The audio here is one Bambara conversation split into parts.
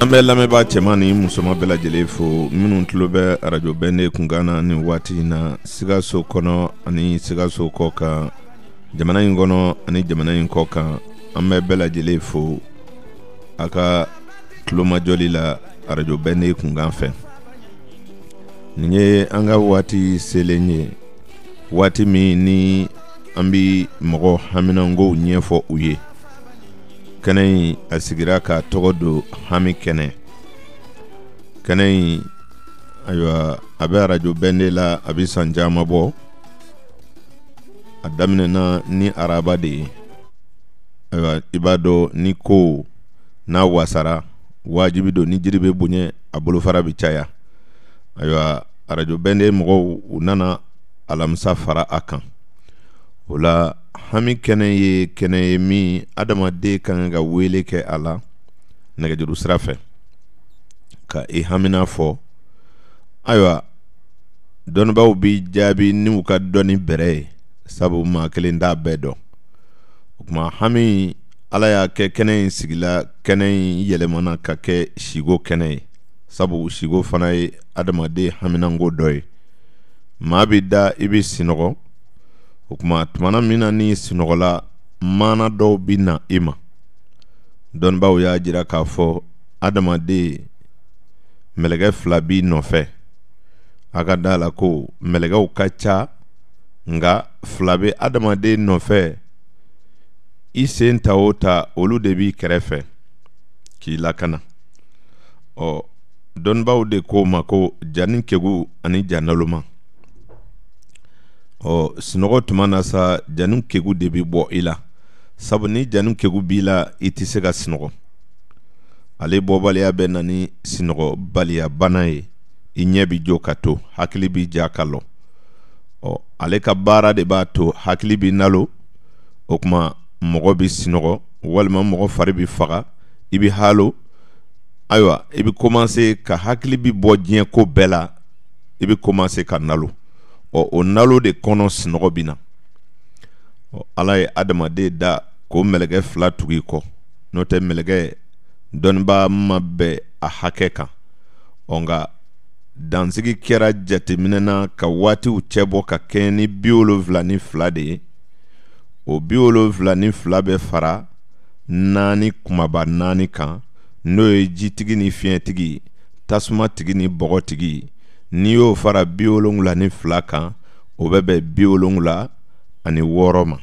An bɛ lamɛnbaa cɛman ni musoman bɛɛ lajɛlen fo minnu tulo bɛ arajo bɛnde kunkan na ni waati in na sikaso kɔnɔ ani sikaso kɔ kan jamana in kɔnɔ ani jamana in kɔ kan an bɛ bɛɛ lajɛlen fo a ka tulomajɔli la arajo bɛnde kunkan fɛ nin ye an ka waati selen ye waati min ni an bi mɔgɔ haminankow ɲɛfɔ u ye kɛnɛ in a sigira k'a tɔgɔ don hami kɛnɛ kɛnɛ in ayiwa a bɛ arajo bɛnde la a bɛ san caman bɔ a daminɛna ni araba de ye ayiwa i b'a dɔn ni ko n'a wasara wajibi don ni jiri bɛ bonya a bolofara bɛ caya ayiwa arajo bɛnde mɔgɔw u nana alamisa fara a kan o la hami kɛnɛ ye kɛnɛ ye min adamaden ka kan ka wele kɛ a la nɛgɛjuru sira fɛ ka i hamina fɔ ayiwa dɔnnibaaw b'i jaabi n'u ka dɔnni bɛrɛ ye sabu maa kelen t'a bɛɛ dɔn o tuma hami ala y'a kɛ kɛnɛ in sigila kɛnɛ in yɛlɛmana ka kɛ siko kɛnɛ ye sabu siko fana ye adamaden haminanko dɔ ye maa bɛ da i bɛ sinɔgɔ o kuma tumana min na n'i sunɔgɔla maana dɔw bɛ na i ma dɔnnibaaw y'a jira k'a fɔ adamaden mɛlɛkɛ fila b'i nɔfɛ a ka da a la ko mɛlɛkɛw ka ca nka fila bɛ adamaden nɔfɛ i sen ta o ta olu de b'i kɛrɛfɛ k'i lakana ɔ dɔnnibaaw de ko o ma ko janin kegun ani ja naloman ɔ sunɔgɔ tuma na sa janin kegun de bɛ bɔ i la sabu ni janin kegun b'i la i tɛ se ka sunɔgɔ ale bɔbaliya bɛ na ni sunɔgɔbaliyabana ye i ɲɛ bɛ jɔ ka to hakili bɛ ja ka lɔ ɔ ale ka baara de b'a to hakili bɛ nalon o kuma mɔgɔ bɛ sunɔgɔ walima mɔgɔ fari bɛ faga i bɛ haalo ayiwa i bɛ kɔmanse ka hakili bɛ bɔ diɲɛ ko bɛɛ la i bɛ kɔmanse ka nalon ɔ o nalon de kɔnɔ sunɔgɔ bɛ na ɔ ala ye adamaden da ko mɛlɛkɛ fila tugu i kɔ n'o tɛ mɛlɛkɛ dɔnnibaa ma bɛn a hakɛ kan ɔ nka dansigi kɛra jateminɛ na ka waatiw cɛ bɔ ka kɛɲɛ ni bi wolonwula ni fila de ye o bi wolonwula ni fila bɛ fara naani kumaba naani kan n'o ye jitigi ni fiɲɛtigi tasumatigi ni bɔgɔtigi n'i y'o fara bi wolonwula ni fila kan o bɛ bɛn bi wolonwula ani wɔɔrɔ ma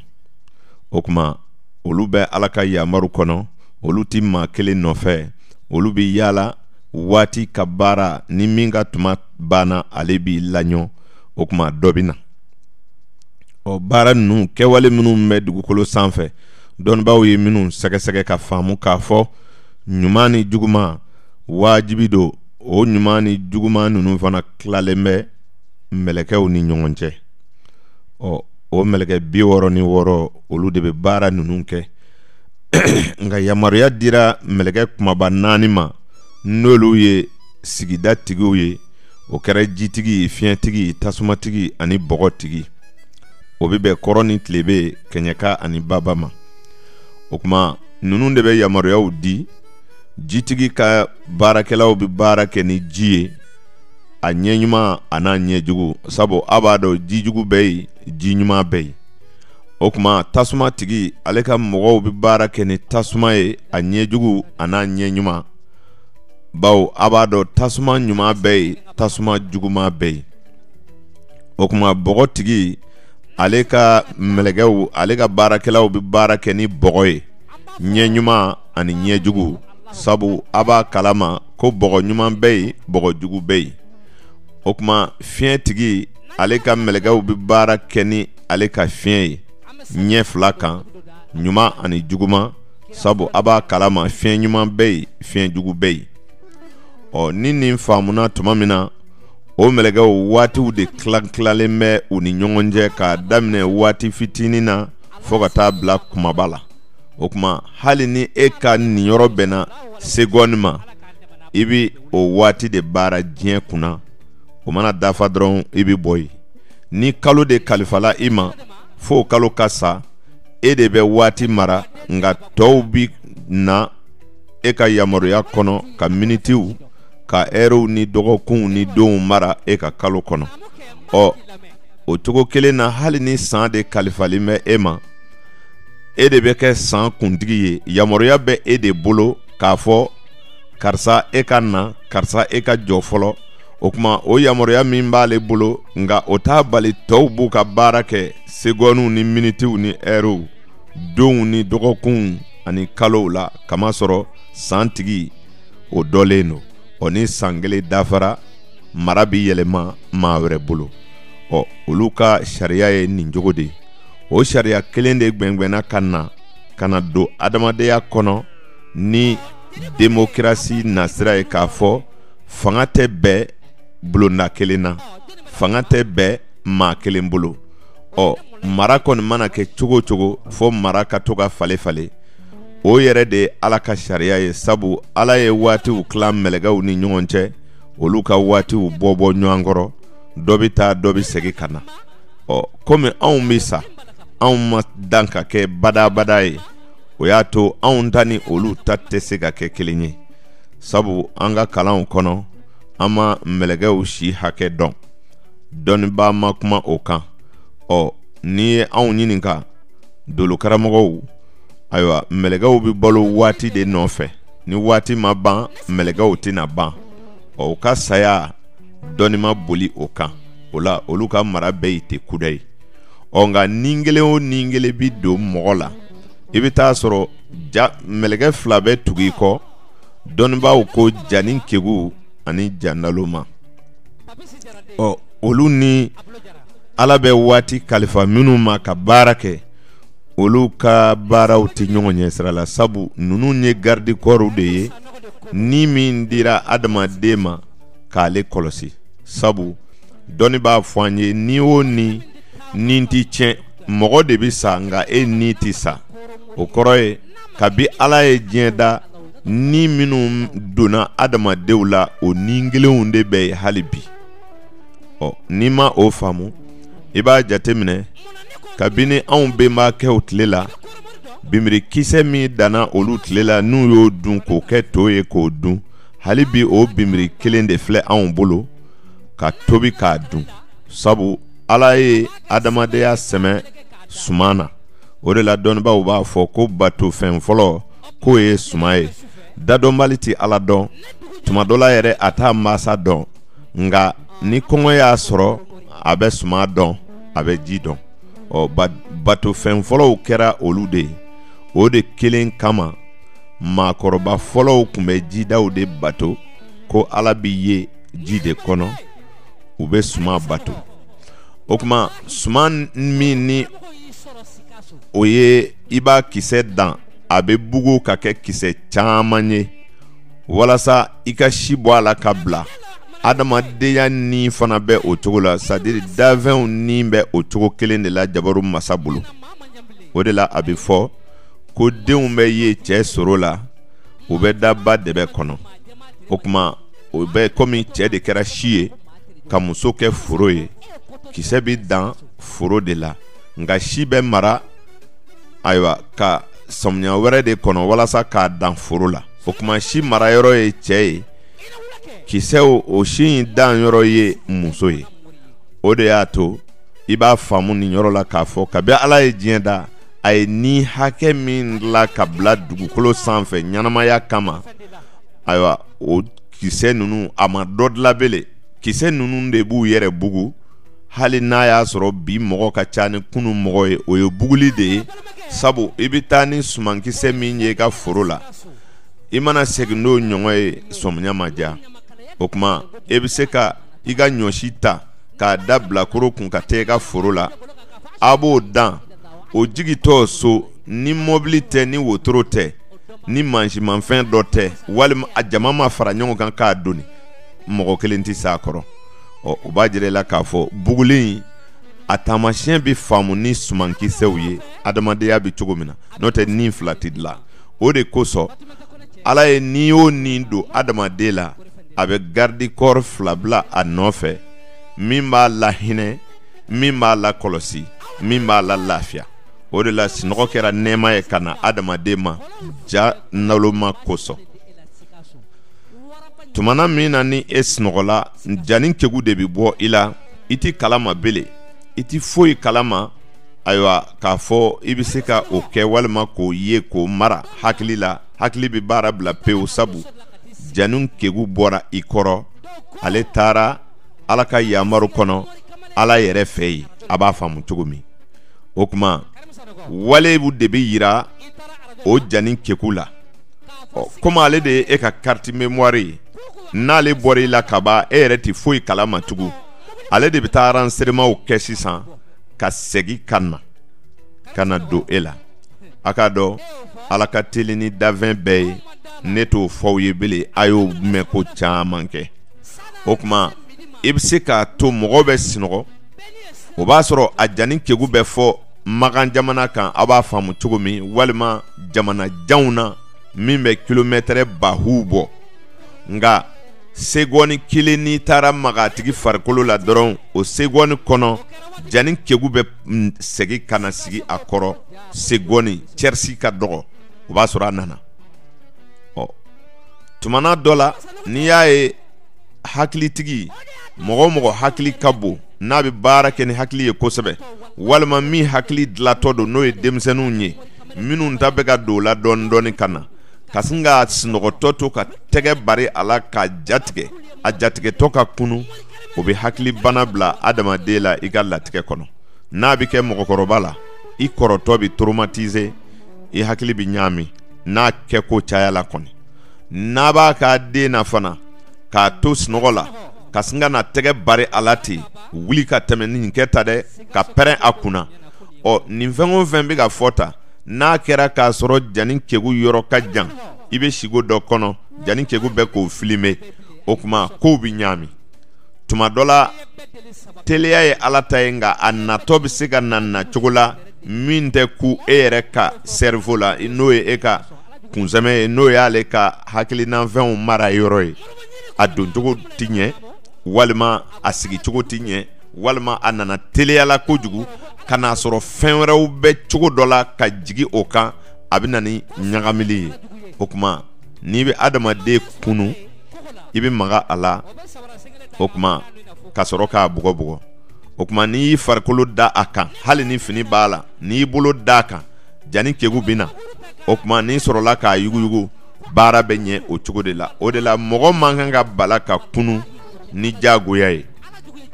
o tuma olu bɛ ala ka yamaru kɔnɔ olu tɛ maa kelen nɔfɛ olu bɛ yaala waati ka baara ni min ka tuma banna ale b'i laɲɔ o tuma dɔ bɛ na ɔ baara ninnu kɛwale minnu bɛ dugukolo sanfɛ dɔnnibaaw ye minnu sɛgɛsɛgɛ ka faamu k'a fɔ ɲuman ni juguman wajibi don o ɲuman ni juguman ninnu fana tilalen bɛ mɛlɛkɛw ni ɲɔgɔn cɛ ɔ o mɛlɛkɛ bi wɔɔrɔ ni wɔɔrɔ olu de bɛ baara ninnu kɛ nka yamaruya dira mɛlɛkɛ kumaba naani ma n'olu ye sigida tigiw ye o kɛra jitigi fiɲɛtigi tasumatigi ani bɔgɔtigi o bɛ bɛn kɔrɔn ni tilebe kɛɲɛka ani baba ma o tuma ninnu de bɛ yamaruyaw di jitigi ka baarakɛlaw bɛ baara kɛ ni ji ye a ɲɛ ɲuman a n'a ɲɛ jugu sabu a b'a dɔn ji jugu bɛ yen ji ɲuman bɛ yen o tuma tasumatigi ale ka mɔgɔw bɛ baara kɛ ni tasuma ye a ɲɛ jugu a n'a ɲɛ ɲuman bawo a b'a dɔn tasuma ɲuman bɛ yen tasuma juguman bɛ yen o tuma bɔgɔtigi ale ka mɛlɛkɛw ale ka baarakɛlaw bɛ baara kɛ ni bɔgɔ ye ɲɛ ɲuman ani ɲɛ jugu sabu a b'a kala ma ko bɔgɔ ɲuman bɛ yen bɔgɔ jugu bɛ yen o tuma fiɲɛtigi ale ka mɛlɛkɛw bɛ baara kɛ ni ale ka fiɲɛ ye ɲɛ fila kan ɲuman ani juguman sabu a b'a kala ma fiɲɛ ɲuman bɛ yen fiɲɛ jugu bɛ yen ɔ ni nin faamuna tuma min na o mɛlɛkɛw waatiw de tila tilalen bɛ u ni ɲɔgɔn cɛ k'a daminɛ waati fitinin na fo ka taa bila kumaba la o tuma hali ni e ka niyɔrɔ bɛnna segɔni ma i bɛ o waati de baara diɲɛ kunna o mana dafa dɔrɔn i bɛ bɔ yen ni kalo de kalifala i ma fo kalo ka sa e de bɛ waati mara nka tɔw bi na e ka yamaruya kɔnɔ ka minitiw ka ɛriw ni dɔgɔkunw ni donw mara e ka kalo kɔnɔ ɔ o cogo kelen na hali ni san de kalifalen bɛ e ma e de bɛ kɛ san kuntigi ye yamaruya bɛ e de bolo k'a fɔ karisa e ka na karisa e ka jɔ fɔlɔ o kuma o yamaruya min b'ale bolo nka o t'a bali tɔw b'u ka baara kɛ segɔniw ni minitiw ni ɛriw donw ni dɔgɔkunw ani kalow la kamasɔrɔ san tigi o dɔlen don ɔ ni san kelen dafara mara bi yɛlɛma maa wɛrɛ bolo ɔ olu ka sariya ye nin cogo de ye o sariya kelen de gwɛngwɛnna ka na ka na don adamadenya kɔnɔ ni democratie nasira ye k'a fɔ fanga tɛ bɛɛ bulonda kelen na fanga tɛ bɛɛ maa kelen bolo ɔ mara kɔni mana kɛ cogo o cogo fo mara ka to ka falen falen o yɛrɛ de ye ala ka sariya ye sabu ala ye waatiw tila mɛlɛkɛw ni ɲɔgɔn cɛ olu ka waatiw bɔ bɔ ɲɔgɔn kɔrɔ dɔ bɛ taa dɔ bɛ segin ka na ɔ komi anw bɛ sa anw ma dan ka kɛ badabada ye o y'a to anw ta ni olu ta tɛ se ka kɛ kelen ye sabu an ka kalanw kɔnɔ an ma mɛlɛkɛw si hakɛ dɔn dɔnnibaa ma kuma o kan ɔ n'i ye anw ɲininka dolokaramɔgɔw ayiwa mɛlɛkɛw bɛ balo waati de nɔfɛ ni waati ma ban mɛlɛkɛw tɛna ban ɔ u ka saya dɔnni ma boli o kan o la olu ka mara bɛɛ ye tɛ kuda ye ɔ nka ni kelen o ni kelen bi don mɔgɔ la i bɛ t'a sɔrɔ mɛlɛkɛ fila bɛ tugu i kɔ dɔnnibaaw ko janin kegun ani ja naloma ɔ olu ni ala bɛ waati kalifa minnu ma ka baara kɛ olu ka baaraw tɛ ɲɔgɔn ɲɛ sira la sabu ninnu ye garidi kɔɔriw de ye ni min dira adamaden ma k'ale kɔlɔsi sabu dɔnni b'a fɔ an ye ni o ni ni tɛ tiɲɛ mɔgɔ de bɛ sa nka e ni tɛ sa o kɔrɔ ye kabi ala ye diɲɛ da ni minnu donna adamadenw la o ni kelenw de bɛ yen hali bi ɔ n'i ma o faamu i b'a jateminɛ kabini anw bɛnbakɛw tile la bimirikisɛ min danna olu tile la n'u y'o dun k'o kɛ to ye k'o dun hali bi o bimiri kelen de filɛ anw bolo ka tobi k'a dun sabu ala ye adamadenya sɛmɛ suman na o de la dɔnnibaaw b'a fɔ ko bato fɛn fɔlɔ k'o ye suman ye dadɔnbali tɛ ala dɔn tuma dɔ la yɛrɛ a t'a mansa dɔn nka ni kɔngɔ y'a sɔrɔ a bɛ suman dɔn a bɛ ji dɔn ɔ bato fɛn fɔlɔw kɛra olu de ye o de kelen kama maakɔrɔba fɔlɔw tun bɛ jidaw de bato ko ala bi yen ji de kɔnɔ u bɛ suman bato o kuma suman min ni o ye i b'a kisɛ dan a bɛ bugu ka kɛ kisɛ caman ye walasa i ka si bɔ a la ka bila adamadenya ni fana bɛ o cogo la c'est-à-dire dafɛnw ni bɛ o cogo kelen de la jabaru masa bolo o de la a bɛ fɔ ko denw bɛ ye cɛ soro la u bɛ da ba dɛbɛ kɔnɔ o kuma o bɛ komi cɛ de kɛra si ye ka muso kɛ foro ye kisɛ bɛ dan foro de la nka si bɛ mara ayiwa ka samiya wɛrɛ de kɔnɔ walasa k'a dan foro la o kuma si mara yɔrɔ ye cɛ ye kisɛw o si in dan yɔrɔ ye muso ye o de y'a to i b'a faamu nin yɔrɔ la k'a fɔ kabi ala ye diɲɛ da a ye ni hakɛ min la ka bila dugukolo sanfɛ ɲɛnamaya kama ayiwa o kisɛ ninnu a ma dɔ dilan bele kisɛ ninnu de b'u yɛrɛ bugu hali n'a y'a sɔrɔ bi mɔgɔ ka ca ni kunun mɔgɔ ye o ye buguli de ye sabu i bɛ taa ni sumankisɛ min ye i ka foro la i mana segin n'o ɲɔgɔn ye sɔmiya ma diya o kuma e bɛ se ka i ka ɲɔsi ta k'a da bilakoro kun ka taa i ka foro la a b'o dan o jigitɔ so ni mɔbili tɛ ni wotoro tɛ ni mansimanfɛn dɔ tɛ walima a jama ma fara ɲɔgɔn kan k'a doni mɔgɔ kelen tɛ s'a kɔrɔ ɔ o b'a jira i la k'a fɔ buguli a taamasiyɛn bɛ faamu ni sumankisɛw ye adamadenya bɛ cogo min na n'o tɛ ni fila tɛ dilan o de kosɔn ala ye ni o ni don adamaden la a bɛ garde corps fila bila a nɔfɛ min b'a lahinɛ min b'a lakɔlɔsi min b'a la lafiya o de la sinɔgɔ kɛra nɛɛma ye ka na adamaden ma ja naloma kosɔn tumana min na ni e sinɔgɔla jani kegu de bi bɔ i la i t'i kalama bele i ti foyi kalama ayiwa k'a fɔ i bɛ se ka o kɛ walima k'o ye k'o mara hakili la hakili bɛ baara bila pewu sabu jani kegu bɔra i kɔrɔ ale taara ala ka yamaru kɔnɔ ala yɛrɛ fɛ yen a b'a faamu cogo min o kuma walew de bɛ yira o jani kegu la ɔ komi ale de ye e ka carte mémoire ye n'ale bɔra i la kaban e yɛrɛ tɛ foyi kala ma tugun ale de bɛ taa renseignements kɛ sisan ka segin ka na ka na don e la a k'a dɔn ala ka teli ni danfɛn bɛɛ ye ne t'o fɔ aw ye bele a y'o mɛn ko caman kɛ o kuma i bɛ se k'a to mɔgɔ bɛ sinɔgɔ o b'a sɔrɔ a jani kegu bɛ fɔ makan jamana kan aw b'a faamu cogo min walima jamana janw na min bɛ kilomɛtɛrɛ baw bɔ nka segɔni kelen n'i taara magatigi farikolo la dɔrɔn o segɔni kɔnɔ jani kegu bɛ mm, segin ka na sigi a kɔrɔ segɔni cɛrisi ka dɔgɔ o b'a sɔrɔ a nana ɔ tumana dɔ la n'i y'a ye hakilitigi mɔgɔ o mɔgɔ hakili ka bon n'a bɛ baara kɛ ni hakili ye kosɛbɛ walima min hakili dilatɔ don n'o ye denmisɛnninw ye minnu ta bɛ ka don la dɔɔnin dɔɔnin ka na ka sin k'a sinɔgɔtɔ to ka tɛgɛ bari a la k'a jatigɛ a jatigɛtɔ ka kunun o bɛ hakili bana bila adamaden la i ka latigɛ kɔnɔ n'a bɛ kɛ mɔgɔkɔrɔba la i kɔrɔtɔ bɛ toromatize i hakili bɛ ɲaami n'a kɛko cayala kɔni n'a b'a k'a den na fana k'a to sinɔgɔ la ka sin ka na tɛgɛ bari a la ten wuli ka tɛmɛ nin kɛ tan dɛ ka pɛrɛn a kunna ɔ nin fɛn o fɛn bɛ ka fɔ tan n'a kɛra k'a sɔrɔ jani kegu yɔrɔ ka jan i bɛ sigo dɔ kɔnɔ jani kegu bɛ k'o filime o kuma kow bɛ ɲaami tuma dɔ la teliya ye ala ta ye nka a natɔ bɛ se ka na nacogo la min tɛ kun e yɛrɛ ka sɛrivo la n'o ye e ka kunsɛmɛ ye n'o y'ale ka hakilinafɛnw marayɔrɔ ye a doncogo tɛ ɲɛ walima a sigicogo tɛ ɲɛ walima a nana teliyala kojugu ka n'a sɔrɔ fɛn wɛrɛw bɛ cogo dɔ la ka jigin o kan a bɛ na ni ɲagamili ye o kuma n'i bɛ adamaden kunun i bɛ maga a la o kuma ka sɔrɔ k'a bugɔ bugɔ o kuma n'i y'i farikolo da a kan hali ni fini b'a la n'i y'i bolo da a kan jani kegu bɛ na o kuma n'i sɔrɔla k'a yuguyugu baara bɛ ɲɛ o cogo de la o de la mɔgɔ man kan ka bala ka kunun ni jagoya ye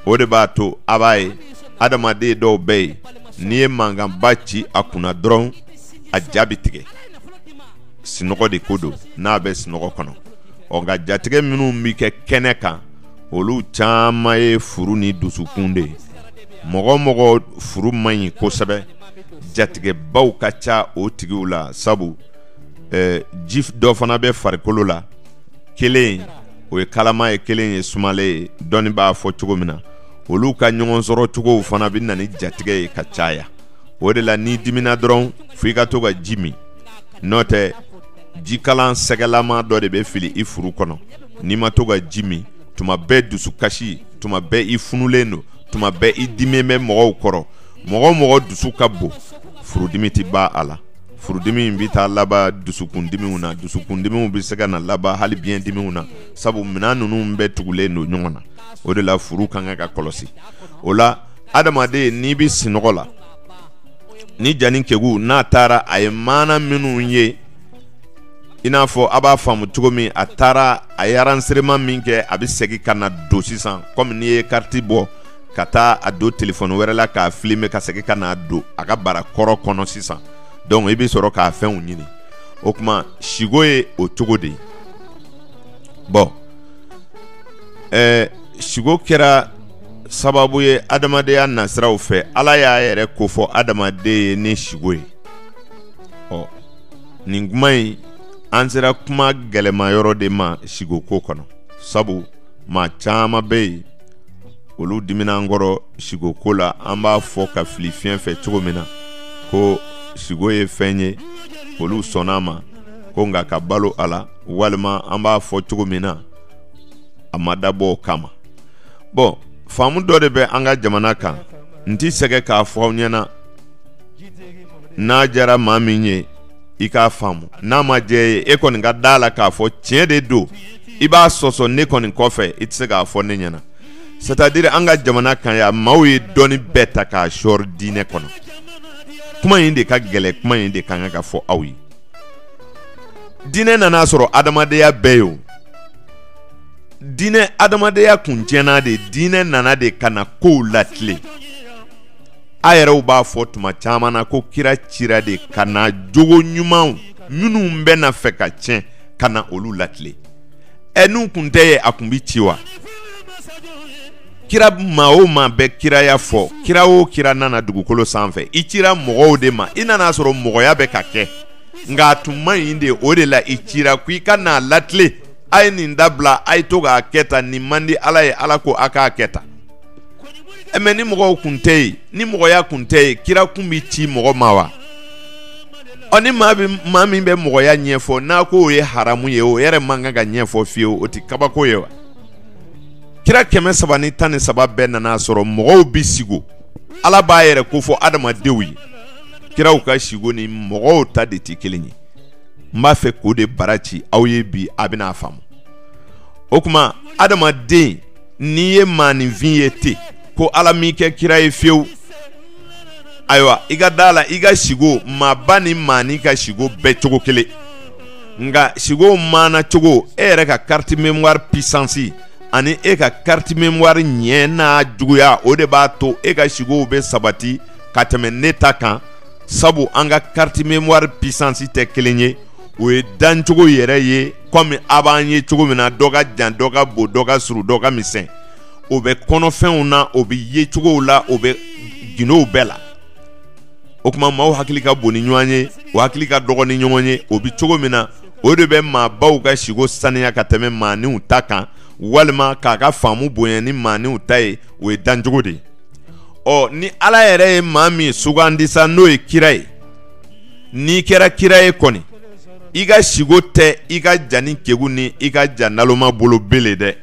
o de b'a to a b'a ye adamaden dɔw bɛ yen n'i ye mankanba ci a kunna dɔrɔn a ja bɛ tigɛ sinɔgɔ de ko don n'a bɛ sinɔgɔ kɔnɔ ɔ nka jatigɛ minnu bɛ kɛ kɛnɛ kan olu caman ye furu ni dusukun de ye mɔgɔ o mɔgɔ furu man ɲi kosɛbɛ jatigɛbaw ka ca o tigiw la sabu eh, ji dɔ fana bɛ farikolo la kelen o ye kalaman ye kelen ye sumalen ye dɔnni b'a fɔ cogo min na olu ka ɲɔgɔn sɔrɔ cogow fana bɛ na ni jatigɛ ye ka caya o de la n'i dimina dɔrɔn fo i ka to ka ji min n'o tɛ jikalan sɛgɛlama dɔ de bɛ fili i furu kɔnɔ n'i ma to ka ji min tuma bɛɛ dusukasi tuma bɛɛ i funulen don tuma bɛɛ i diminen bɛ mɔgɔw kɔrɔ mɔgɔ mɔgɔ dusu ka bon furudimi tɛ ban a la furudimi bɛ taa laban dusukundimiw na dusukundimiw bɛ se ka na laban hali biɲɛ dimiw na sabu minɛn ninnu bɛɛ tugulen don ɲɔgɔn na o de la furu kan ka kɔlɔsi o la adamaden n'i bɛ sinɔgɔ la ni ja nin kegu n'a taara a ye maana minnu ye i n'a fɔ a b'a faamu cogo min a taara a ye enregistrement min kɛ a bɛ segin ka n'a don sisan kɔmi n'i ye kariti bɔ ka taa a don telefɔni wɛrɛ la k'a filime ka segin ka n'a don a ka bara kɔrɔ kɔnɔ sisan donc i bɛ sɔrɔ k'a fɛnw ɲini o kuma sigo ye o cogo de ye bɔn ɛɛ sigo kɛra sababu ye adamadenya nasiraw fɛ ala y'a yɛrɛ kofɔ adamaden ye ni sigo ye ɔ nin kuma in an sera kuma gɛlɛma yɔrɔ de ma sigo ko kɔnɔ sabu maa caman bɛ yen olu dimina an kɔrɔ siko ko la an b'a fɔ ka fili fiɲɛ fɛ cogo min na ko siko ye fɛn ye olu sɔnna a ma ko nka ka balo a la walima an b'a fɔ cogo min na a ma dabɔ o kama bɔn faamu dɔ de bɛ an ka jamana kan n tɛ sɛgɛn k'a fɔ aw ɲɛna n'a diyara maa min ye i k'a faamu n'a ma diya i ye e kɔni ka da a la k'a fɔ tiɲɛ de don i b'a sɔsɔ ne kɔni kɔfɛ i tɛ se k'a fɔ ne ɲɛna c'est à dire an ka jamana kan yan maaw ye dɔnni bɛɛ ta k'a sɔɔri diinɛ kɔnɔ kuma in de ka gɛlɛ kuma in de ka kan ka fɔ aw ye diinɛ nana a sɔrɔ adamadenya bɛ yen o diinɛ adamadenya kun tiɲɛna de diinɛ nana de ka na kow latilen a yɛrɛw b'a fɔ tuma caman na ko kira cira de ka na jogo ɲumanw minnu bɛ na fɛ ka tiɲɛ ka na olu latilen ɛ n'u kun tɛ yen a kun bi ci wa kira maa o maa bɛ kiraya fɔ kira o kira nana dugukolo sanfɛ i cira mɔgɔw de ma i nana a sɔrɔ mɔgɔya bɛ ka kɛ nka a tun man ɲi de o de la i cira ko i ka n'a latilen a ye nin dabila a ye to k'a kɛ tan nin man di ala ye ala ko a k'a kɛ tan mɛ ni mɔgɔw kun tɛ yen ni mɔgɔya kun tɛ yen kira kun bi ci mɔgɔ ma wa ɔ ni maa min bɛ mɔgɔya ɲɛfɔ n'a ko o ye haramu ye o yɛrɛ man kan ka ɲɛfɔ fiyewu o tɛ kabako ye wa kira kɛmɛ saba ni tan ni saba bɛɛ nana a sɔrɔ mɔgɔw bɛ sigo ala b'a yɛrɛ kofɔ adamadenw ye kiraw ka sigo ni mɔgɔw ta de tɛ kelen ye n b'a fɛ k'o de bara ci aw ye bi a bɛna a faamu o kuma adamaden n'i ye maaninfin ye ten ko ala m'i kɛ kira ye fiyewu ayiwa i ka da la i ka siko maaba ni maani ka siko bɛɛ cogo kelen nka siko maana cogo e yɛrɛ ka carte mémoire puissance ani e ka carte mémoire ɲɛ n'a juguya o de b'a to e ka sikow bɛ sabati ka tɛmɛ ne ta kan sabu an ka carte mémoire puissance tɛ kelen ye o ye dancogo yɛrɛ ye kɔmi a b'an ye cogo min na dɔ ka jan dɔ ka bon dɔ ka surun dɔ ka misɛn o bɛ kɔnɔfɛnw na o bɛ yecogow la o bɛ gundow bɛɛ la o tuma maaw hakili ka bon ni ɲɔgɔn ye o hakili ka dɔgɔn ni ɲɔgɔn ye o bɛ cogo min na o de bɛ maabaw ka siko saniya ka tɛmɛ maaniw ta kan walima k'a ka faamu bonya ni maaniw ta ye o ye dancogo de ye ɔ ni ala yɛrɛ ye maa min sugandi sa n'o ye kira ye n'i kɛra kira ye kɔni i ka siko tɛ i ka jani kegu ni i ka ja naloma bolo belen dɛ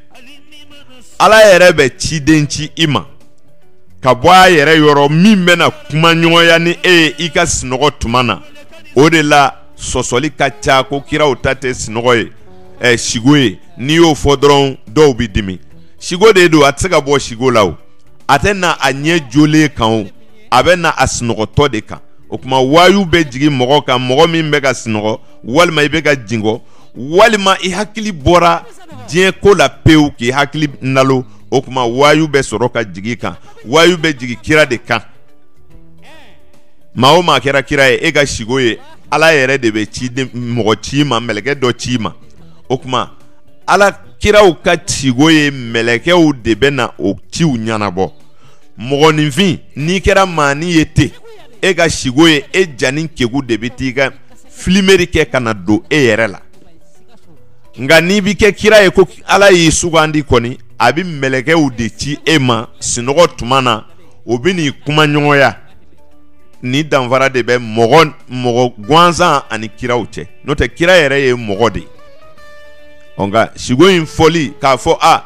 ala yɛrɛ bɛ ciden ci i ma ka bɔ a yɛrɛ yɔrɔ min bɛna kuma ɲɔgɔnya ni e ye i ka sunɔgɔ tuma na o de la sɔsɔli ka ca ko kiraw ta tɛ sunɔgɔ ye ɛ sigo ye n'i y'o fɔ dɔrɔn dɔw bɛ dimi sigo de don a tɛ se ka bɔ sigo la o a tɛ na a ɲɛ jolen kan o a bɛ na a sunɔgɔtɔ de kan o tuma wayu bɛ jigin mɔgɔ kan mɔgɔ min bɛ ka sunɔgɔ walima i bɛ ka jingɔ walima i hakili bɔra diɲɛ ko la pewu k'i hakili nalo o tuma wayu bɛ sɔrɔ ka jigin kan wayu bɛ jigin kira de kan maa o maa kɛra kira ye e ka siko ye ala yɛrɛ de bɛ ci mɔgɔ ci ma mɛlɛkɛ dɔ ci ma o tuma ala kiraw ka siko ye mɛlɛkɛw de bɛ na o ciw ɲɛnabɔ mɔgɔninfin n'i kɛra maani ye ten e ka siko ye e jani kegu de bɛ t'i ka filimeri kɛ ka na don e yɛrɛ la nka n'i bɛ kɛ kira ye ko ala y'i sugandi kɔni a bɛ mɛlɛkɛw de ci e ma sunɔgɔ tuma na o bɛ n'i kuma ɲɔgɔnya nin danfara de bɛ mɔgɔ mɔgɔ gansan ani kiraw cɛ n'o tɛ kira yɛrɛ ye mɔgɔ de ye nka siko in fɔli k'a fɔ a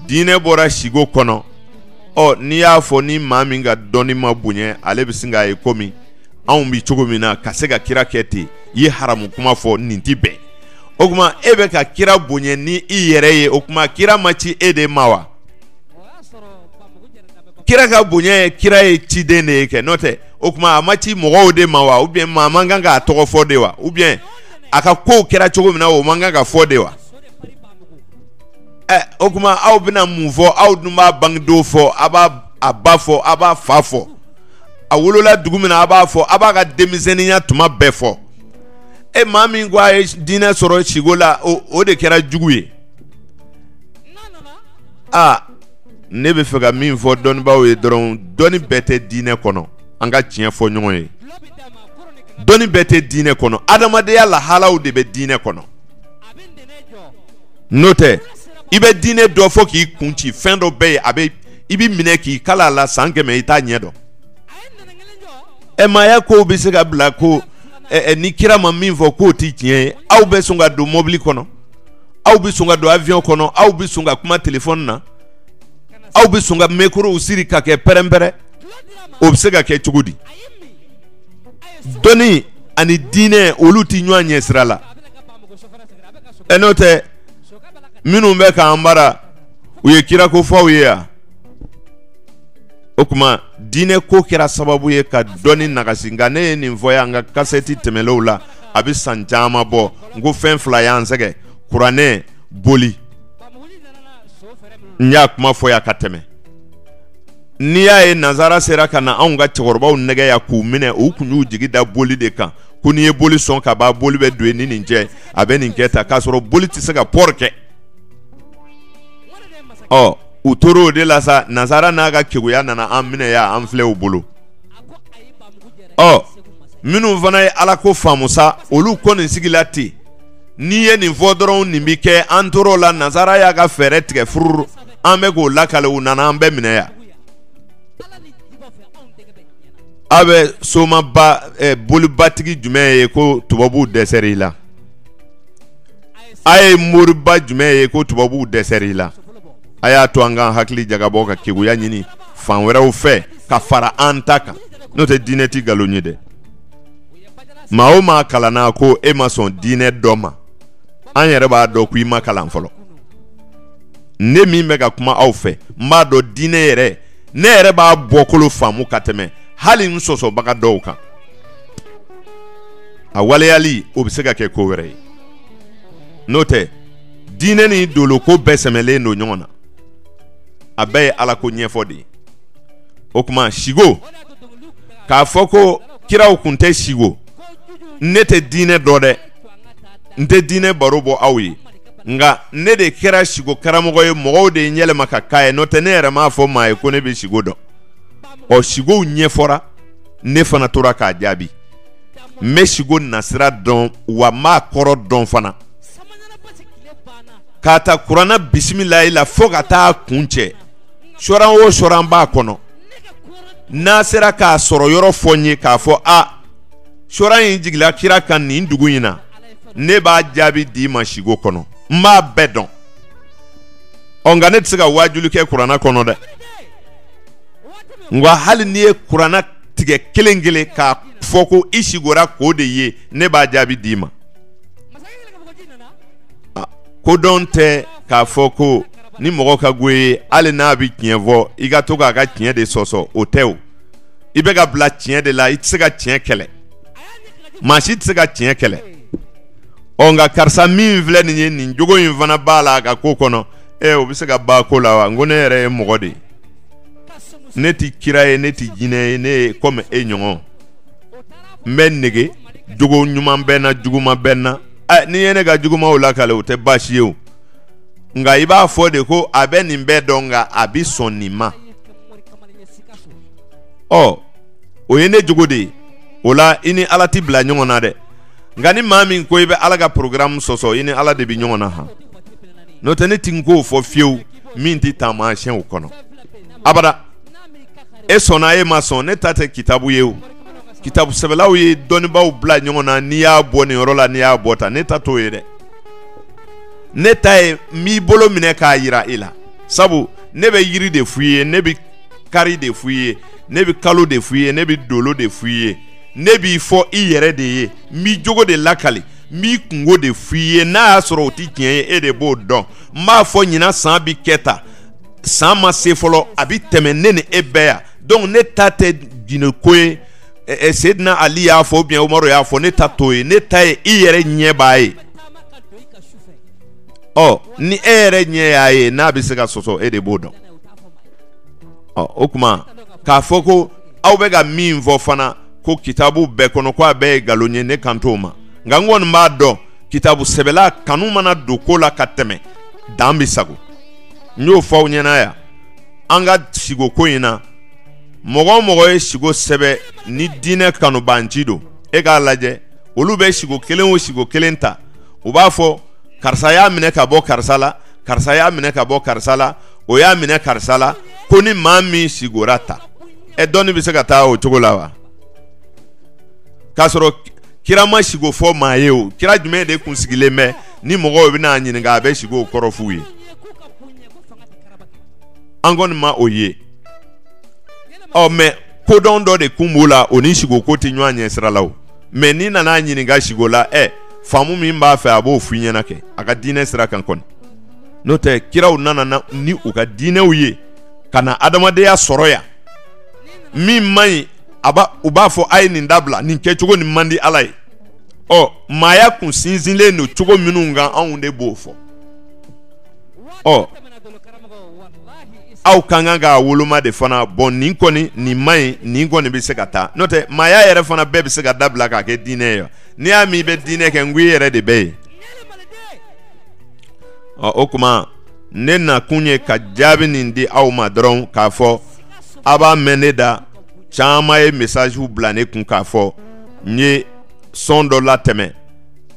diinɛ bɔra siko kɔnɔ ɔ n'i y'a fɔ ni maa min ka dɔnni ma bonya ale bɛ sin k'a ye kɔmi anw bɛ cogo min na ka se ka kira kɛ ten i ye haramu kuma fɔ nin tɛ bɛn o tuma e bɛ ka kira bonya ni i yɛrɛ ye o tuma kira ma ci e de ma wa kira ka bonya ye kira ye ciden de ye kɛ n'o tɛ o tuma a ma ci mɔgɔw de ma wa ou bien maa man kan k'a tɔgɔ fɔ de wa ou bien a ka kow kɛra cogo min na o man kan ka fɔ de wa ɛ o tuma aw bɛna mun fɔ aw dun b'a bangedon fɔ a b'a a ba fɔ a b'a fa fɔ a wolola dugu min na a b'a fɔ a b'a ka denmisɛnninya tuma bɛɛ fɔ e maa min ko a ye diinɛ sɔrɔ sigo la o de kɛra jugu ye a ne bɛ fɛ ka min fɔ dɔnnibaaw ye dɔrɔn dɔnni bɛɛ tɛ diinɛ kɔnɔ an ka tiɲɛ fɔ ɲɔgɔn ye dɔnni bɛɛ tɛ diinɛ kɔnɔ adamadenya lahalaw de bɛ diinɛ kɔnɔ n'o tɛ i bɛ diinɛ dɔn fo k'i kun ci fɛn dɔ bɛ yen a i bɛ minɛ k'i kalan a la san kɛmɛ i t'a ɲɛ dɔn ɛ maaya kow bɛ se ka bila ko ɛ ni kira ma min fɔ k'o ti tiɲɛ ye aw bɛ sɔn ka don mɔbili kɔnɔ aw bɛ sɔn ka don avion kɔnɔ aw bɛ sɔn ka kuma telefɔni na aw bɛ sɔn ka mikorow siri ka kɛ pɛrɛnpɛrɛn o bɛ se ka kɛ cogo di dɔnni ani diinɛ olu ti ɲɔgɔn ɲɛ sira la ɛ n'o tɛ minnu bɛ k'an mara u ye kirako fɔ aw ye yan o kuma diinɛ ko kɛra sababu ye ka dɔnni nagasi nka ne ye nin fɔ yan n ka kasɛti tɛmɛnlenw la a bɛ san caman bɔ n ko fɛn fila y'an sɛgɛn kuranɛ boli n y'a kuma fɔ yan ka tɛmɛ n'i y'a ye nanzara sera ka na anw ka cɛkɔrɔbaw nɛgɛn yan k'u minɛ u kun y'u jigi da boli de kan ko n'i ye boli sɔn ka ban boli bɛ don ni nin cɛ a bɛ nin kɛ tan k'a sɔrɔ boli tɛ se ka pɔri kɛ ɔ u tora o de la sa nanzara n'a ka keguya nana an minɛ yan an filɛ u bolo ɔ minnu fana ye ala ko faamu sa olu kɔni sigila ten n'i ye nin fɔ dɔrɔn nin bɛ kɛ an tora o la nanzara y'a ka fɛɛrɛ tigɛ fururu an bɛ k'o lakale u nana an bɛɛ minɛ yan a bɛ somaba eh, bolibatigi jumɛn ye ko tubabuw dɛsɛra i la a ye moriba jumɛn ye ko tubabuw dɛsɛra i la a y'a to an ka hakili jagabɔ ka keguya ɲini fan wɛrɛw fɛ ka fara an ta kan n'o tɛ diinɛ ti nkalon ye dɛ maa o maa kalanna ko e ma sɔn diinɛ dɔ ma an yɛrɛ b'a dɔn ko i ma kalan fɔlɔ ne min bɛ ka kuma aw fɛ n b'a dɔn diinɛ yɛrɛ ne yɛrɛ b'a bɔkolo faamu ka tɛmɛ hali n sɔsɔbaga dɔw kan a waleyali o bɛ se ka kɛ ko wɛrɛ ye n'o tɛ diinɛ ni doloko bɛɛ sɛmɛlen don ɲɔgɔn na a bɛɛ ye ala ko ɲɛfɔ de ye o kuma sigo k'a fɔ ko kiraw kun tɛ sigo ne tɛ diinɛ dɔn dɛ n tɛ diinɛ baro bɔ aw ye nka ne de kɛra sigo karamɔgɔ ye mɔgɔw de ye n yɛlɛma ka k'a ye n'o tɛ ne yɛrɛ m'a fɔ maa ye ko ne bɛ sigo dɔn ɔ sigow ɲɛfɔra ne fana tora k'a jaabi n bɛ sigo nasira dɔn wa n b'a kɔrɔ dɔn fana k'a ta kuranɛ bisimilayi la fo ka taa kuncɛ sɔran o sɔran b'a kɔnɔ n'a sera k'a sɔrɔ yɔrɔ fɔ n ye k'a fɔ a sɔran in jigila kira kan nin dugu in na ne b'a jaabi d'i ma sigo kɔnɔ n b'a bɛɛ dɔn ɔ nka ne tɛ se ka waajuli kɛ kuranɛ kɔnɔ dɛ nka hali n'i ye kuranɛ tigɛ kelen kelen k'a fɔ ko i sigora k'o de ye ne b'a jaabi d'i ma kodɔn tɛ k'a fɔ ko ni mɔgɔ ka go i ye hali n'a bɛ tiɲɛ fɔ i ka to k'a ka tiɲɛ de sɔsɔ o tɛ o i bɛ ka bila tiɲɛ de la i tɛ se ka tiɲɛ kɛlɛ maa si tɛ se ka tiɲɛ kɛlɛ ɔ nka karisa min filɛ nin ye nin jogo in fana b'a la a ka ko kɔnɔ ɛ o bɛ se ka b'a ko la wa n ko ne yɛrɛ ye mɔgɔ de ye ne tɛ kira ye ne tɛ jinɛ ye ne ye komi e ɲɔgɔn n bɛ nege jogo ɲuman bɛ n na juguman bɛ n na ɛ n'i ye ne ka jugumanw lakale o tɛ baasi ye o nka i b'a fɔ de ko a bɛ nin bɛɛ dɔn nka a bɛ sɔn nin ma ɔ o ye ne jogo de ye o la i ni ala tɛ bila ɲɔgɔn na dɛ nka ni maa min ko i bɛ ala ka programme sɔsɔ i ni ala de bɛ ɲɔgɔn na han n'o tɛ ne tɛna ko fɔ fiyewu min tɛ taamasiyɛnw kɔnɔ abada e sɔnna e ma sɔn ne ta tɛ kitabu ye o kitabu sɛbɛlaw ye dɔnnibaaw bila ɲɔgɔn na n'i y'a bɔ nin yɔrɔ la n'i y'a bɔ tan ne ta t'o ye dɛ ne ta ye n b'i bolo minɛ k'a yira e la sabu ne bɛ yiri de f'i ye ne bɛ kari de f'i ye ne bɛ kalo de f'i ye ne bɛ dolo de f'i ye ne b'i fɔ i yɛrɛ de ye n b'i jogo de lakali n b'i kunko de f'i ye n'a y'a sɔrɔ o tɛ tiɲɛ ye e de b'o dɔn n b'a fɔ ɲinan san bɛ kɛ tan san ma se fɔlɔ a bɛ tɛmɛ ne ni e bɛɛ yan donc ne ta tɛ jinɛ ko ye Seydina Ali y'a fɔ ou bien Umaru y'a fɔ ne ta t'o ye ne ta ye i yɛrɛ ɲɛ b'a ye ɔ ni e yɛrɛ ɲɛ y'a ye n'a bɛ se ka sɔsɔ e de b'o dɔn ɔ o kuma k'a fɔ ko aw bɛ ka min fɔ fana ko kitabu bɛɛ kɔnɔ ko a bɛɛ ye nkalon ye ne kan t'o ma nka n kɔni b'a dɔn kitabu sɛbɛla kanu mana don ko la ka tɛmɛ dan bɛ sago n y'o fɔ aw ɲɛna yan an ka sigo ko in na mɔgɔ o mɔgɔ ye sigo sɛbɛn ni diinɛ kanubanci don e k'a lajɛ olu bɛ sigo kelen o sigo kelen ta u b'a fɔ karisa y'a minɛ ka bɔ karisa la karisa y'a minɛ ka bɔ karisa la o y'a minɛ karisa la ko ni maa min sigora tan ɛ dɔnni bɛ se ka taa o cogo la wa k'a sɔrɔ kira ma sigo fɔ maa ye o kira jumɛn de kun sigilen bɛ ni mɔgɔw bɛ n'a ɲininka a bɛ siko kɔrɔ f'u ye an kɔni ma o ye ɔ mais kodɔn dɔ de kun b'o la o ni siko ko tɛ ɲɔgɔn ɲɛ sira la o mais n'i nana ɲininka siko la ɛ faamu min b'a fɛ a b'o f'i ɲɛna kɛ a ka diinɛ sira kan kɔni n'o tɛ kiraw nana ni u ka diinɛw ye ka na adamadenya sɔrɔ yan min man ɲi a u b'a fɔ a ye nin dabila nin kɛcogo nin man di ala ye ɔ maaya kun sinsinlen don cogo minnu kan anw de b'o fɔ ɔ aw ka kan k'a woloma de fana bon nin kɔni nin man ɲi nin kɔni bɛ se ka taa n'o tɛ maaya yɛrɛ fana bɛɛ bɛ se ka dabila k'a kɛ diinɛ ye n'i y'a mɛn i bɛ diinɛ kɛ n ko i yɛrɛ de bɛ yen ɔ o kuma ne nakun ye ka jaabi nin di aw ma dɔrɔn k'a fɔ aw b'a mɛn ne da caman ye message bila ne kun k'a fɔ n ye son dɔ latɛmɛ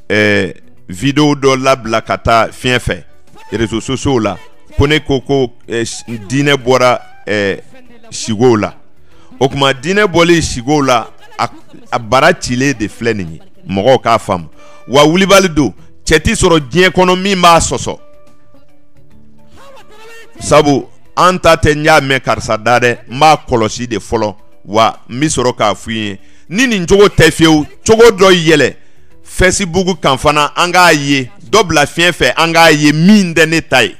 ɛɛ video dɔ labila ka taa fiɲɛ fɛ réseaux sociaux la ko ne ko ko eh, diinɛ bɔra eh, sigow la o kuma diinɛ bɔlen sigow la a, a bara cilen de filɛ nin ye mɔgɔw k'a faamu wa wulibali don cɛ ti sɔrɔ diɲɛ kɔnɔ min b'a sɔsɔ sabu an ta tɛ n y'a mɛn karisa da dɛ n b'a kɔlɔsi de fɔlɔ wa n bɛ sɔrɔ k'a f'u ye ni nin cogo tɛ fiyewu cogo dɔ yɛlɛ Facebook kan fana an k'a ye dɔ bila fiɲɛ fɛ an k'a ye min tɛ ne ta ye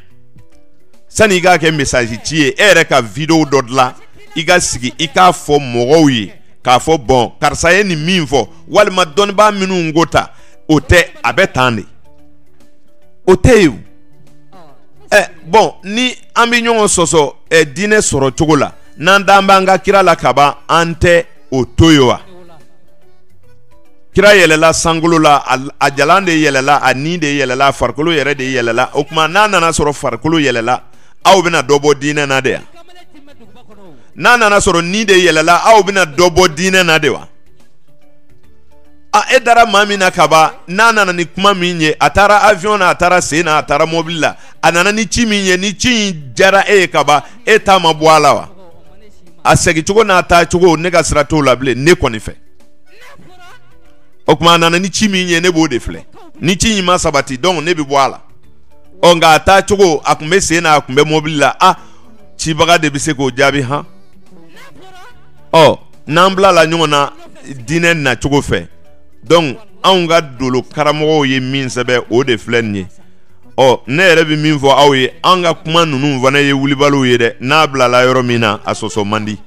sani i k'a kɛ message ci ye e yɛrɛ ka video dɔ dilan i ka sigi i k'a fɔ mɔgɔw ye k'a fɔ bon karisa ye nin min fɔ walima dɔnnibaa minnu ko tan o tɛ a bɛ tan de o tɛ yen ɛ bon ni an bɛ ɲɔgɔn sɔsɔ ɛ diinɛ sɔrɔ cogo la n'an dan b'an ka kira la ka ban an tɛ o to yen wa kira yɛlɛla sankolo la a jalan de yɛlɛla a ni de yɛlɛla a farikolo yɛrɛ de yɛlɛla o kuma n'a nana sɔrɔ farikolo yɛlɛla aw bɛna dɔ bɔ diinɛ na de yan n'a nana sɔrɔ ni de yɛlɛla aw bɛna dɔ bɔ diinɛ na de wa a e dara maa min na kaban n'a nana ni kuma min ye a taara avion na a taara sen na a taara mobili la a nana ni ci min ye ni ci in diyara e ye kaban e ta ma bɔ a la wa a segincogo n'a taa cogo ne ka sira t'o la bilen ne kɔni fɛ o kuma a nana ni ci min ye ne b'o de filɛ ni ci in ma sabati donc ne bɛ bɔ a la ɔ nka a taa cogo a kun bɛ sen na a kun bɛ mobili la a cibaga de bɛ se k'o jaabi han ɔ. n'an bilala ɲɔgɔn na diinɛ nacogo fɛ donc anw ka dolo karamɔgɔw ye min sɛbɛn o de filɛ nin ye ɔ ne yɛrɛ bɛ min fɔ aw ye an ka kuma ninnu fana ye wulibaliw ye dɛ n'a bilala yɔrɔ min na a sɔsɔ man di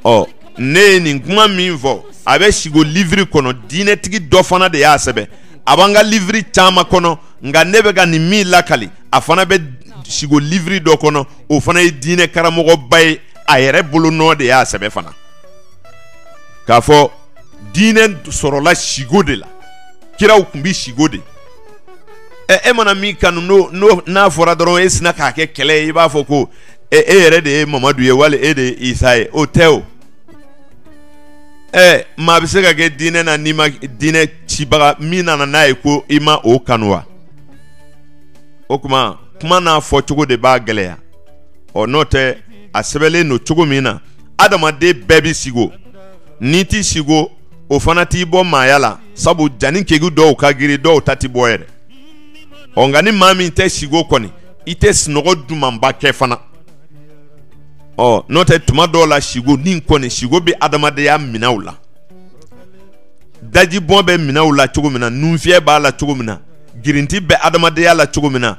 ɔ ne ye nin kuma min fɔ a bɛ sigo liviri kɔnɔ diinɛtigi dɔ fana de y'a sɛbɛn a b'an ka liviri caman kɔnɔ nka ne bɛ ka nin min lakali a fana bɛ sigo liviri dɔ kɔnɔ o fana ye diinɛ karamɔgɔba ye a yɛrɛ bolo nɔ de y'a sɛbɛ fana k'a fɔ diinɛ sɔrɔla sigo de la kiraw tun bɛ sigo de ɛ e mana min kanu n'o n'o n'a fɔra dɔrɔn e sina k'a kɛ kɛlɛ ye i b'a fɔ ko e e yɛrɛ de ye mamadu ye wali e de ye isa ye o tɛ o ɛ maa bɛ se ka kɛ diinɛ na n'i ma diinɛ cibaga min nana n'a ye ko i ma o kanu wa o tuma kuma n'a fɔcogo de b'a gɛlɛya ɔ n'o tɛ a sɛbɛnlen don cogo min na adamaden bɛɛ bɛ sigo n'i ti sigo o fana t'i bɔ maaya la sabu jani kegu dɔw ka giri dɔw ta ti bɔ yɛrɛ ɔ nka ni maa min tɛ sigo kɔni i tɛ sunɔgɔ dumanba kɛ fana ɔ n'o tɛ tuma dɔw la sigo ni kɔni sigo bɛ adamadenya minɛw la dajibɔn bɛ minɛw la cogo min na nunfiyɛ b'a la cogo min na girinti bɛ adamadenya la cogo min na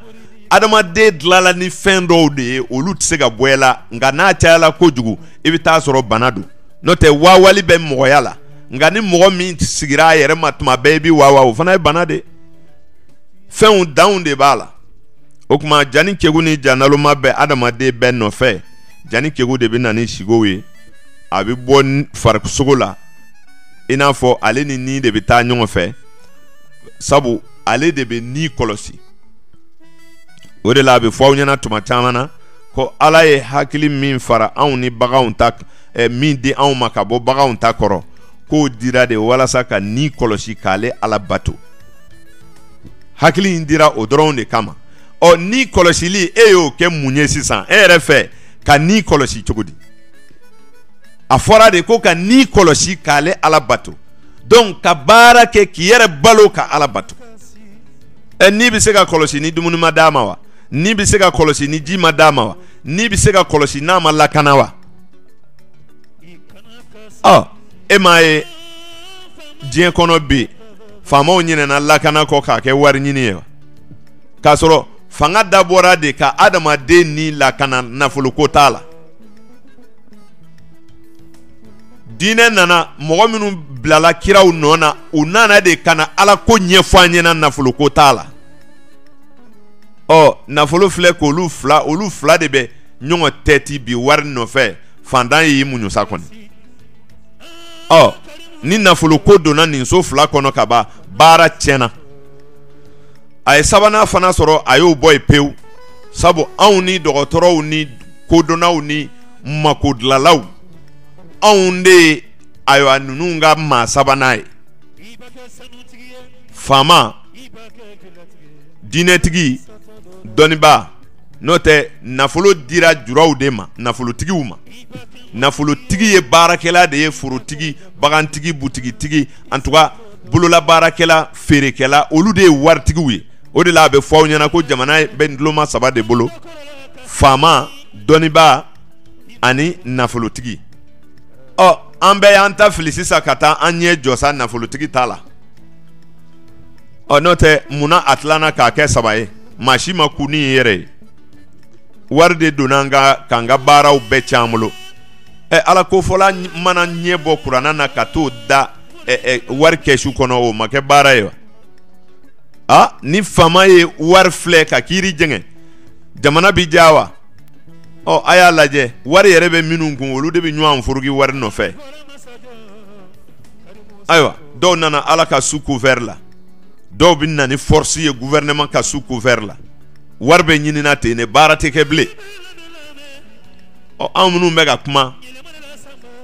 adamaden dilala ni fɛn dɔw de ye olu tɛ se ka bɔ a la nka n'a cayala kojugu i bɛ taa sɔrɔ bana don n'o tɛ waawali bɛ mɔgɔya la nka ni mɔgɔ min sigira a yɛrɛ ma tuma bɛɛ i bɛ waawa o fana ye bana de fɛnw danw de b'a la o tuma jani kegu ni ja naloma bɛ adamaden bɛɛ nɔfɛ jani kegu de bɛ na ni sigow ye a bɛ bɔ farisogo la i n'a fɔ ale ni ni de bɛ taa ɲɔgɔn fɛ sabu ale de bɛ ni kɔlɔsi o de la a bɛ fɔ aw ɲɛna tuma caman na ko ala ye hakili min fara anw ni baganw ta eh, min di anw ma ka bɔ baganw ta kɔrɔ k'o dira de walasa ka ni kɔlɔsi k'ale ala bato hakili in dira o dɔrɔn de kama ɔ ni kɔlɔsili e y'o kɛ mun ye sisan e yɛrɛ fɛ ka ni kɔlɔsi cogo di a fɔra de ko ka ni kɔlɔsi k'ale ala bato donc ka baara kɛ k'i yɛrɛ balo ka ala bato ɛ ni bɛ se ka kɔlɔsi ni dumuni ma d'a ma wa ni bɛ se ka kɔlɔsi ni ji ma d'a ma wa ni bɛ se ka kɔlɔsi n'a ma lakana wa ɔ e m'a ye diɲɛ kɔnɔ bi faamaw ɲinɛna lakana kɔ k'a kɛ wari ɲini ye wa k'a sɔrɔ fanga dabɔra de ka adamaden ni lakana nafoloko t'a la diinɛ nana mɔgɔ minnu bilala kiraw nɔ na u nana de ka na ala ko ɲɛfɔ an ɲɛna nafolo ko t'a la ɔ nafolo filɛ k'olu fila olu fila de bɛ ɲɔgɔn tɛti bi wari nɔfɛ fantan y'i muɲu sa kɔni ɔ ni nafolo ko donna nin so fila kɔnɔ ka ban baara tiɲɛna a ye sabanan fana sɔrɔ a y'o bɔ yen pewu sabu anw ni dɔgɔtɔrɔw ni kodɔnnaw ni makodilanlaw anw de ye ayiwa ninnu ka maa sabanan ye faama diinɛtigi dɔnnibaa n'o tɛ nafolo dira juraw de ma nafolotigiw ma nafolotigi ye baarakɛla de ye forotigi bagantigi butigitigi en tout cas bololabaarakɛla feerekɛla olu de ye waritigiw ye o de la a bɛ fɔ aw ɲɛna ko jamana bɛ duloma saba de bolo faama dɔnnibaa ani nafolotigi ɔ an bɛɛ y'an ta fili sisan ka taa an ɲɛ jɔ sa nafolotigi ta la ɔ n'o tɛ munna a tilanna k'a kɛ saba ye maa si ma kun nin ye yɛrɛ ye wari de donna an ka k'an ka baaraw bɛɛ cɛn an bolo ɛ ala ko fɔla mana ɲɛ bɔ kurana na ka t'o da ɛ ɛ wari kɛsu kɔnɔ o ma kɛ baara ye wa a ni faama ye wari filɛ ka kiiri jɛngɛ jamana bɛ diya wa ɔ a y'a lajɛ wari yɛrɛ bɛ minnu kun olu de bɛ ɲɔgɔn furuki wari nɔfɛ ayiwa dɔw nana ala ka sous couvert la dɔw bɛ na ni force ye gouvernement ka sous couvert la wari bɛ ɲinina ten ne baara tɛ kɛ bilen ɔ anw minnu bɛ ka kuma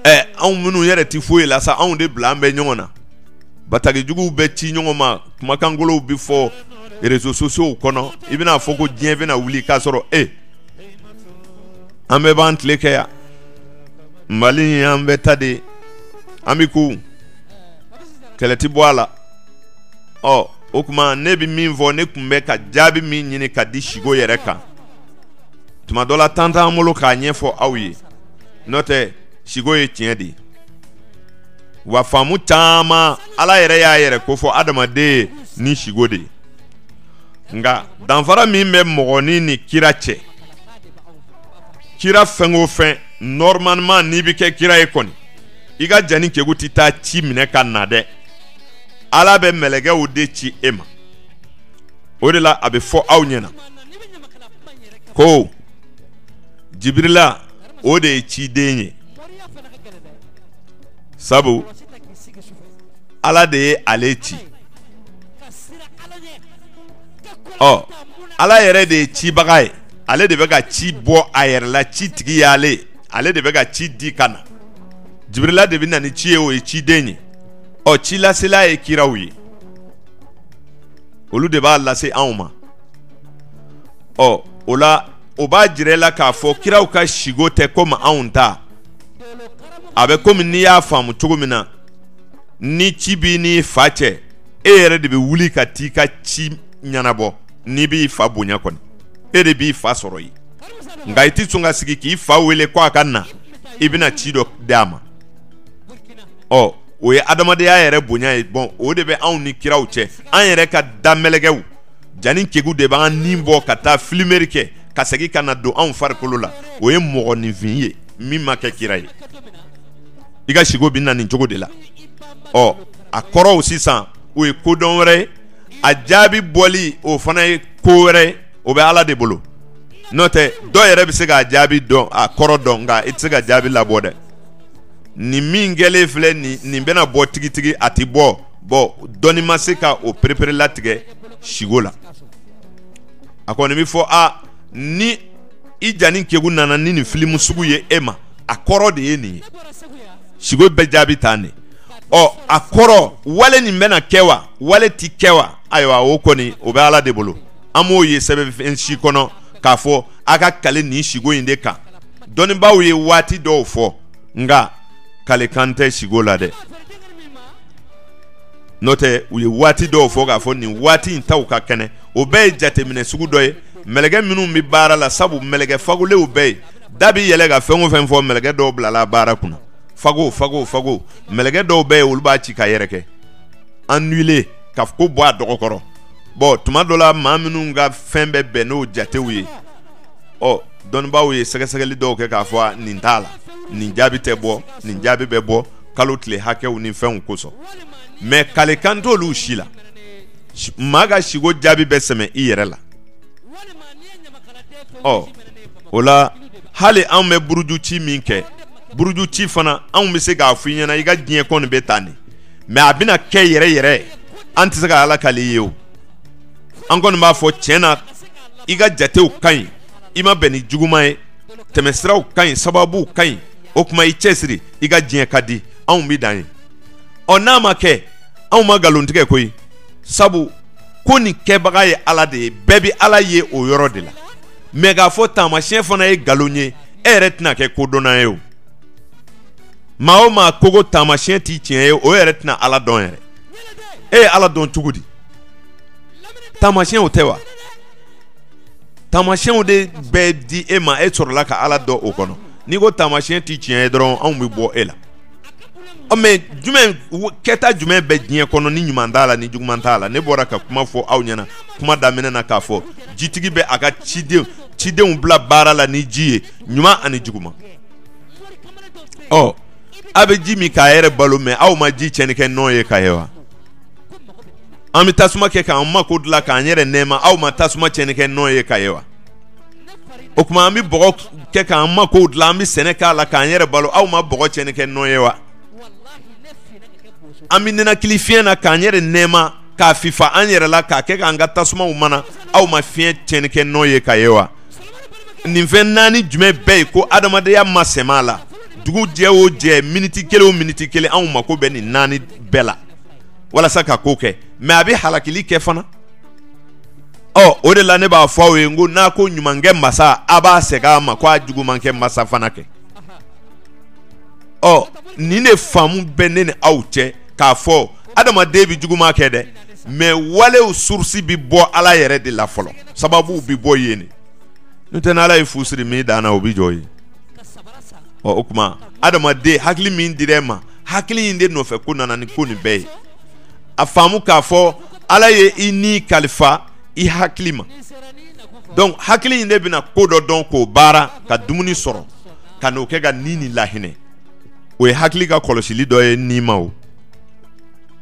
ɛ anw minnu yɛrɛ tɛ foyi la sa anw de bilalen bɛ ɲɔgɔn na bataki juguw bɛ ci ɲɔgɔn ma kumakan kolonw bɛ fɔ réseaux sociaux kɔnɔ i bɛna a fɔ ko diɲɛ bɛna wuli k'a sɔrɔ e an bɛɛ b'an tile kɛ yan mali in an bɛɛ ta de an bɛ ko kɛlɛ ti bɔ a la ɔ o tuma ne bɛ min fɔ ne tun bɛ ka jaabi min ɲini ka di siko yɛrɛ kan tuma dɔ la temps t'an bolo k'a ɲɛfɔ aw ye n'o tɛ siko ye tiɲɛ de ye wa faamu caman ala yɛrɛ y'a yɛrɛ kofɔ adamaden ye ni siko de ye nka danfara min bɛ mɔgɔnin ni kira cɛ kira fɛn o fɛn normalement n'i bɛ kɛ kira ye kɔni i ka janin kegu tɛ taa ci minɛ ka na dɛ ala bɛ mɛlɛkɛw de ci e ma o de la a bɛ fɔ aw ɲɛna ko jibirila o de ye ciden ye sabu ala de ye ale ci ɔ ala yɛrɛ de ye cibaga ye ale de bɛ ka ci bɔ a yɛrɛ la ci tigi y'ale ye ale de bɛ ka ci di ka na jibirila de bɛ na ni ci ye o ye ciden ye ɔ cilasela ye kiraw ye olu de b'a lase anw ma ɔ o la o b'a jira i la k'a fɔ kiraw ka sigo tɛ komi anw ta a bɛ komi n'i y'a faamu cogo min na ni ci b'i n'i fa cɛ e yɛrɛ de bɛ wuli ka t'i ka ci ɲɛnabɔ n'i b'i fa bonya kɔni e de b'i fa sɔrɔ yen nka i tɛ sɔn ka sigi k'i fa wele ko a ka na i bɛna ci dɔ d'a ma ɔ o ye adamadenya yɛrɛ bonya ye bɔn o de bɛ anw ni kiraw cɛ an yɛrɛ ka damɛlɛkɛw jani kegu de b'an ni bɔ ka taa filimeri kɛ ka segin ka na don anw farikolo la o ye mɔgɔninfin ye min ma kɛ kira ye i ka sigo bɛ na nin cogo de la ɔ a kɔrɔw sisan o ye kodɔn wɛrɛ ye a jaabi bɔli o fana ye ko wɛrɛ ye o bɛ ala de bolo n'o tɛ dɔ yɛrɛ bɛ se k'a jaabi dɔn a kɔrɔ dɔn nka i tɛ se ka jaabi labɔ dɛ nin min kɛlen filɛ nin bɛna bɔ tigitigi a tɛ bɔ bɔn dɔnni ma se ka o perepere latigɛ sigo la a kɔni bɛ fɔ a ni i jani kegu nana ni nin filimu sugu ye e ma a kɔrɔ de ye nin ye sigo bɛ jaabi tan de ɔ a kɔrɔ wale nin bɛna kɛ wa wale tɛ kɛ wa ayiwa o kɔni o bɛ ala de bolo an m'o ye sɛbɛnfɛn si kɔnɔ k'a fɔ a ka kale nin sigo in de kan dɔnnibaaw ye waati dɔw fɔ nka kalekan tɛ sigo la dɛ n'o tɛ u ye waati dɔw fɔ k'a fɔ nin waati in taw ka kɛnɛ o bɛɛ ye jateminɛ sugu dɔ ye mɛlɛkɛ minnu bɛ baara la sabu mɛlɛkɛ fagolenw bɛ yen da bɛ yɛlɛ ka fɛn o fɛn fɔ mɛlɛkɛ dɔw bilala baara kunna fago fago fago mɛlɛkɛ dɔw bɛ yen olu b'a ci k'a yɛrɛkɛ anule ka ko bɔ a dɔgɔ kɔrɔ bɔn tuma dɔ la maa minnu ka fɛn bɛ bɛn n'o jatew ye ɔ dɔnnibaaw ye sɛgɛsɛgɛli dɔw kɛ k'a fɔ nin t'a la nin jaabi tɛ bɔ nin jaabi bɛ bɔ kalo tile hakɛw ni fɛnw kosɔn mɛ kalekan t'olu si la maa ka sigo jaabi bɛ sɛmɛ i yɛrɛ la ɔ o la hali anw bɛ buruju ci min kɛ buruju ci fana anw bɛ se k'a fɔ i ɲɛ na i ka diɲɛ kɔni bɛ tan de mɛ a bɛna kɛ yɛrɛ yɛrɛ an tɛ se ka ala kali ye o an kɔni b'a fɔ tiɲɛ na i ka jatew ka ɲi i ma bɛn ni juguman ye tɛmɛsiraw ka ɲi sababuw ka ɲi o kuma i cɛsiri i ka diɲɛ ka di anw bi dan yen ɔ n'a ma kɛ anw ma nkalontigɛ koyi sabu ko nin kɛbaga ye ala de ye bɛɛ bi ala ye o yɔrɔ de la mais k'a fɔ taamasiyɛn fana ye nkalon ye e yɛrɛ tɛna kɛ kodɔnna ye o maa o maa ko ko taamasiyɛn ti tiɲɛ ye o yɛrɛ tɛna ala dɔn yɛrɛ e ye ala dɔn cogo di taamasiyɛnw tɛ wa Taamasiyɛnw de bɛɛ di e ma e sɔrɔla ka Ala dɔn o kɔnɔ n'i ko taamasiyɛn tɛ tiɲɛ ye dɔrɔn anw bɛ bɔ e la ɔ mais jumɛn kɛta jumɛn bɛ diɲɛ kɔnɔ ni ɲuman t'a la ni juguman t'a la ne bɔra ka kuma fɔ aw ɲɛna kuma daminɛ na k'a fɔ jitigi bɛ a ka cidenw bila baara la ni ji ye ɲuman ani juguman ɔ a bɛ ji min k'a yɛrɛ balo mais aw ma ji tiɲɛni kɛ nɔn ye ka ye wa. an bɛ tasuma kɛ k'an mako dilan k'an yɛrɛ nɛɛma aw ma tasuma cɛnni kɛ nɔn ye ka ye wa o kuma an bɛ bɔgɔ kɛ k'an mako dilan an bɛ sɛnɛ k'a la k'an yɛrɛ balo aw ma bɔgɔ cɛnni kɛ nɔn ye wa an bɛ ninakili fiɲɛ na k'an yɛrɛ nɛɛma k'a fifa an yɛrɛ la k'a kɛ k'an ka tasumaw mana aw ma fiɲɛ cɛnni kɛ nɔn ye ka ye wa nin fɛn naani jumɛn bɛ yen ko adamadenya ma sɛmɛ a la dugu jɛ o jɛ miniti kelen o miniti kelen anw mako bɛ nin naani bɛɛ la walasa ka ko kɛ mais a bɛ halakili kɛ fana ɔ o de la ne b'a fɔ aw ye n ko n'a ko ɲumankɛ masa a b'a segin a ma ko a jugumankɛ masa fana kɛ ɔ nin de faamu bɛ ne ni aw cɛ k'a fɔ adamaden bɛ juguman kɛ dɛ mais walew source bɛ bɔ ala yɛrɛ de la fɔlɔ sababuw bɛ bɔ yen de n'o tɛ n'ala ye fu siri min dan na o bɛ jɔ yen ɔ o kuma adamaden hakili min dir'e ma hakili in de nɔfɛ ko nana ni ko nin bɛɛ ye a faamu k'a fɔ ala ye i ni kalifa i hakili ma donc hakili in de bɛna ko dɔ dɔn k'o baara ka dumuni sɔrɔ ka n'o kɛ ka ni ni lahinɛ o ye hakili ka kɔlɔsili dɔ ye ni ma o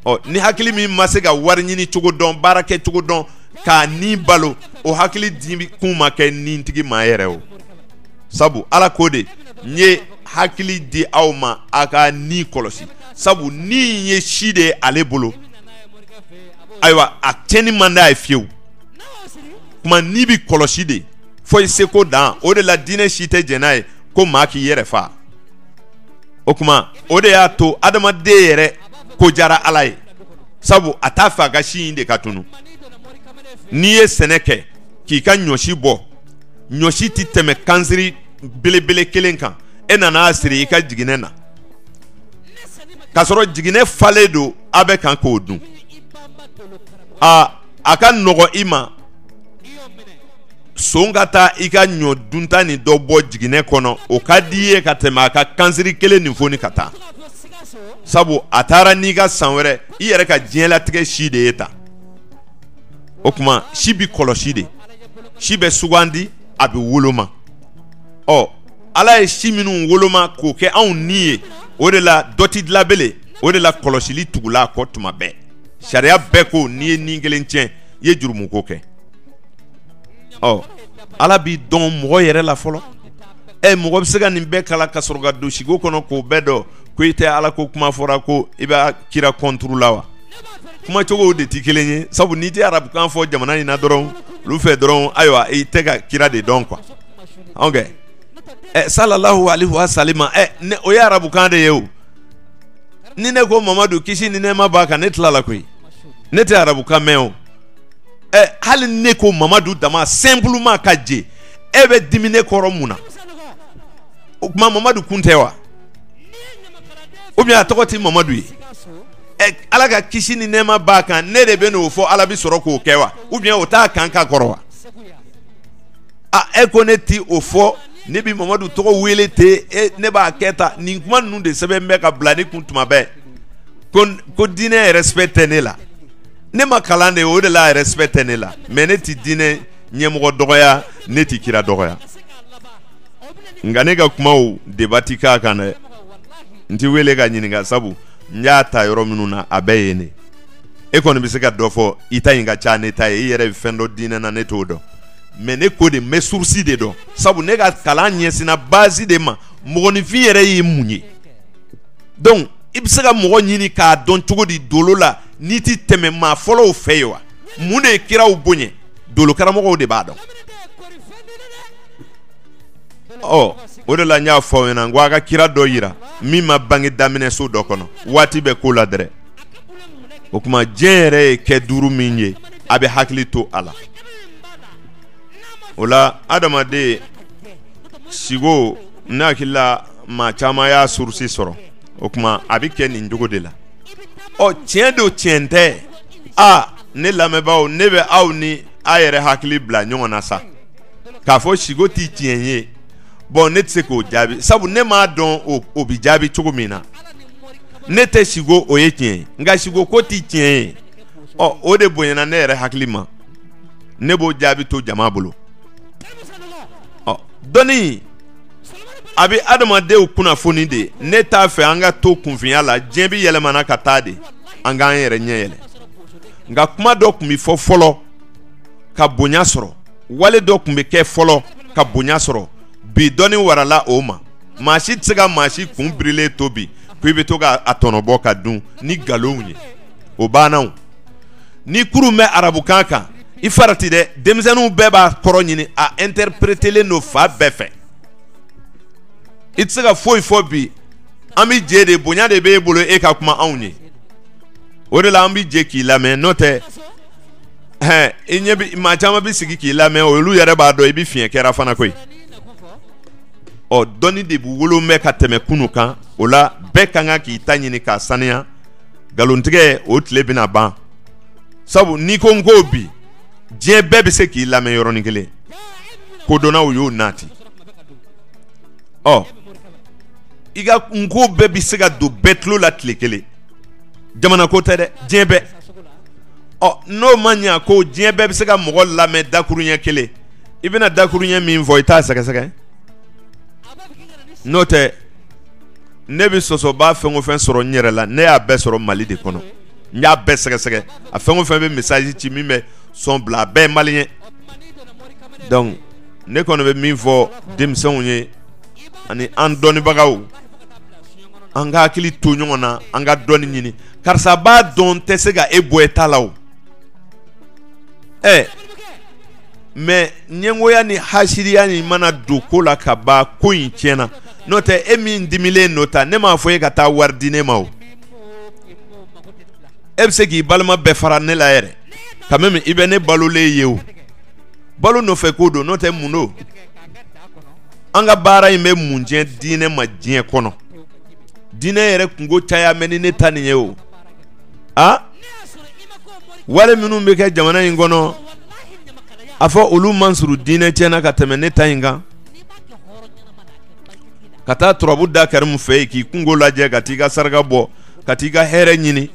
ɔ ni hakili min ma se ka wari ɲini cogo dɔn baara kɛ cogo dɔn k'a ni balo o hakili di kun ma kɛ nitigi ma yɛrɛ o sabu ala ko de n ye hakili di aw ma a ka ni kɔlɔsi sabu ni ye si de ye ale bolo ayiwa a cɛnni man d'a ye fiyewu kuma ni bi kɔlɔsi de fo i seko dan o de la diinɛ si tɛ jɛn n'a ye ko maa k'i yɛrɛ fa o kuma o de y'a to adamaden yɛrɛ ko jara ala ye sabu a t'a fɛ a ka si in de ka tunu n'i ye sɛnɛ kɛ k'i ka ɲɔsi bɔ ɲɔsi tɛ tɛmɛ kansiri belebele kelen kan e nana a siri i ka jiginɛ na k'a sɔrɔ jiginɛ falen don a bɛ kan k'o dun a a ka nɔgɔ i ma son ka taa i ka ɲɔ dunta nin dɔ bɔ jiginɛ kɔnɔ o ka di i ye ka tɛmɛ a ka kansiri kelen nin foni ka taa sabu a taara n'i ka san wɛrɛ i yɛrɛ ka diɲɛlatigɛ si de ye ta o kuma si bi kɔlɔsi de si bɛ sugandi a bɛ woloma ɔ ala ye si minnu woloma k'o kɛ anw ni ye o de la dɔ ti dilan bele o de la kɔlɔsili tugula a kɔ tuma bɛɛ sariya bɛɛ ko n'i ye ni kelen tiɲɛ i ye jurumuko kɛ ɔ ala bi dɔn mɔgɔ yɛrɛ la fɔlɔ ɛ mɔgɔ bɛ se ka nin bɛɛ kalan ka sɔrɔ ka don siko kɔnɔ k'o bɛɛ dɔn ko i tɛ ala ko kuma fɔra ko i bɛ kira contre la wa kuma cogo de tɛ kelen ye sabu n'i tɛ arabukan fɔ jamana in na dɔrɔn olu fɛ dɔrɔn ayiwa i tɛ ka kira de dɔn quoi ok ɛ eh, sallallahu alaihi wa sallam ɛ eh, o ye arabukan de ye o ni ne ko mamadu kisi ni nɛɛma b'a kan ne tilala koyi ne tɛ arabukan mɛn o ɛ eh, hali ne ko mamadu dama simplement ka je e bɛ dimi ne kɔrɔ mun na o kuma mamadu kun tɛ wa ou bien a tɔgɔ tɛ mamadu ye. ala ka kisi ni nɛɛma b'a kan ne de bɛ n'o fɔ ala bɛ sɔrɔ k'o kɛ wa ou bien o t'a kan ka kɔrɔ wa a e ko ne ti o fɔ ne bɛ mamadu tɔgɔ wele ten e ne b'a kɛ ta nin kuma ninnu de sɛbɛn bɛ ka bila ne kun tuma bɛɛ ko diinɛ respect tɛ ne la ne ma kalan de o de la respect tɛ ne la mais ne ti diinɛ ɲɛmɔgɔ dɔgɔya ne ti kira dɔgɔya nka ne ka kumaw débat ti k'a kan dɛ n ti wele ka ɲininka sabu n y'a ta yɔrɔ minnu na a bɛɛ ye ne e kɔni bɛ se ka dɔ fɔ i ta in ka ca ne ta ye i yɛrɛ bɛ fɛn dɔn diinɛ na ne t'o dɔn mais ne ko de n bɛ source de dɔn sabu ne ka kalan ɲɛsinna base de ma mɔgɔninfin yɛrɛ ye mun ye donc i bɛ se ka mɔgɔ ɲini k'a dɔn cogo di dolo la n'i tɛ tɛmɛ maa fɔlɔw fɛ yen wa mun de ye kiraw bonya dolokaramɔgɔw de b'a dɔn ɔ o de la n y'a fɔ aw ɲɛna n ko a ka kira dɔ yira min ma bange daminɛso dɔ kɔnɔ waati bɛ ko la dɛrɛ o kuma diɲɛ yɛrɛ ye kɛ duuru min ye a bɛ hakili to a la o la adamaden sigo ne hakili la maa caman y'a source sɔrɔ o kuma a bɛ kɛ nin cogo de la ɔ tiɲɛ don tiɲɛ tɛ a ne lamɛnbaaw ne bɛ aw ni a yɛrɛ hakili bila ɲɔgɔn na sa k'a fɔ siko tɛ tiɲɛ ye bon ne tɛ se k'o jaabi sabu ne m'a dɔn o bɛ jaabi cogo min na ne tɛ siko o ye tiɲɛ ye nka siko ko tɛ tiɲɛ ye ɔ o de bonyana ne yɛrɛ hakili ma ne b'o jaabi to jama bolo ɔ dɔnni a bɛ adamadenw kunnafoni de ne t'a fɛ an ka to kunfinya la diɲɛ bɛ yɛlɛmana ka taa de an k'an yɛrɛ ɲɛ yɛlɛ nka kuma dɔ tun bɛ fɔ fɔlɔ ka bonya sɔrɔ wale dɔ tun bɛ kɛ fɔlɔ ka bonya sɔrɔ bi dɔnni warala o ma maa si tɛ se ka maa si kun birilen to bi ko i bɛ to ka a tɔnɔbɔ ka dun ni nkalonw ye o banna o ni kurun bɛ arabukan kan i farati dɛ denmisɛnninw bɛɛ b'a kɔrɔ ɲini a interprételen don fan bɛɛ fɛ i tɛ se ka foyi fɔ bi an bɛ je de bonya de b'e bolo e ka kuma anw ye o de la an bɛ je k'i lamɛn n'o tɛ hɛn i ɲɛ bi maa caman bi sigi k'i lamɛn olu yɛrɛ b'a dɔn i bi fiɲɛ kɛra fana koyi ɔ dɔnni de b'u bolo bi ka tɛmɛ kunu kan o la bɛɛ ka kan k'i ta ɲini k'a saniya nkalontigɛ o tile bɛna ban sabu n'i ko n ko bi diɲɛ bɛɛ bɛ se k'i lamɛn yɔrɔnin kelen kodɔnnaw y'o nati ɔ i ka n ko bɛɛ bɛ se ka don bɛɛ tulo la tile kelen jamana ko tɛ dɛ diɲɛ bɛɛ ɔ n'o ma ɲɛ ko diɲɛ bɛɛ bɛ se ka mɔgɔ lamɛn dakuruɲɛ kelen i bɛna dakuruɲɛ min fɔ i t'a sɛgɛsɛgɛ n'o tɛ ne bɛ sɔsɔbaa fɛn o fɛn sɔrɔ n yɛrɛ la ne y'a bɛɛ sɔrɔ mali de kɔnɔ n y'a bɛɛ sɛgɛsɛgɛ a fɛn o fɛn bɛ message ci min bɛ son bila a bɛɛ ye maliyɛn donc ne kɔni bɛ min fɔ denmisɛnw ye ani an dɔnnibagaw an ka hakili to ɲɔgɔn na an ka dɔnni ɲini karisa b'a dɔn tɛ se ka e bɔ e ta la o ɛ mais ɲɛngoya ni hasiriya ni mana don ko la ka ban ko in tiɲɛna n'o tɛ e min dimilen n'o ta ne m'a fɔ e ka taa wari di ne ma o e bɛ se k'i balima bɛɛ fara ne la yɛrɛ quand même i bɛ ne balolen ye o balo nɔfɛ ko don n'o tɛ mun don an ka baara in bɛ mun tiɲɛ diinɛ ma diɲɛ kɔnɔ diinɛ yɛrɛ kunko caya mɛ ni ne ta nin ye o a wale minnu bɛ kɛ jamana in kɔnɔ a fɔ olu man surun diinɛ tiɲɛ na ka tɛmɛ ne ta in kan ka taa turabu da karimu fɛ yen k'i kunko lajɛ ka t'i ka saraka bɔ ka t'i ka hɛrɛ ɲini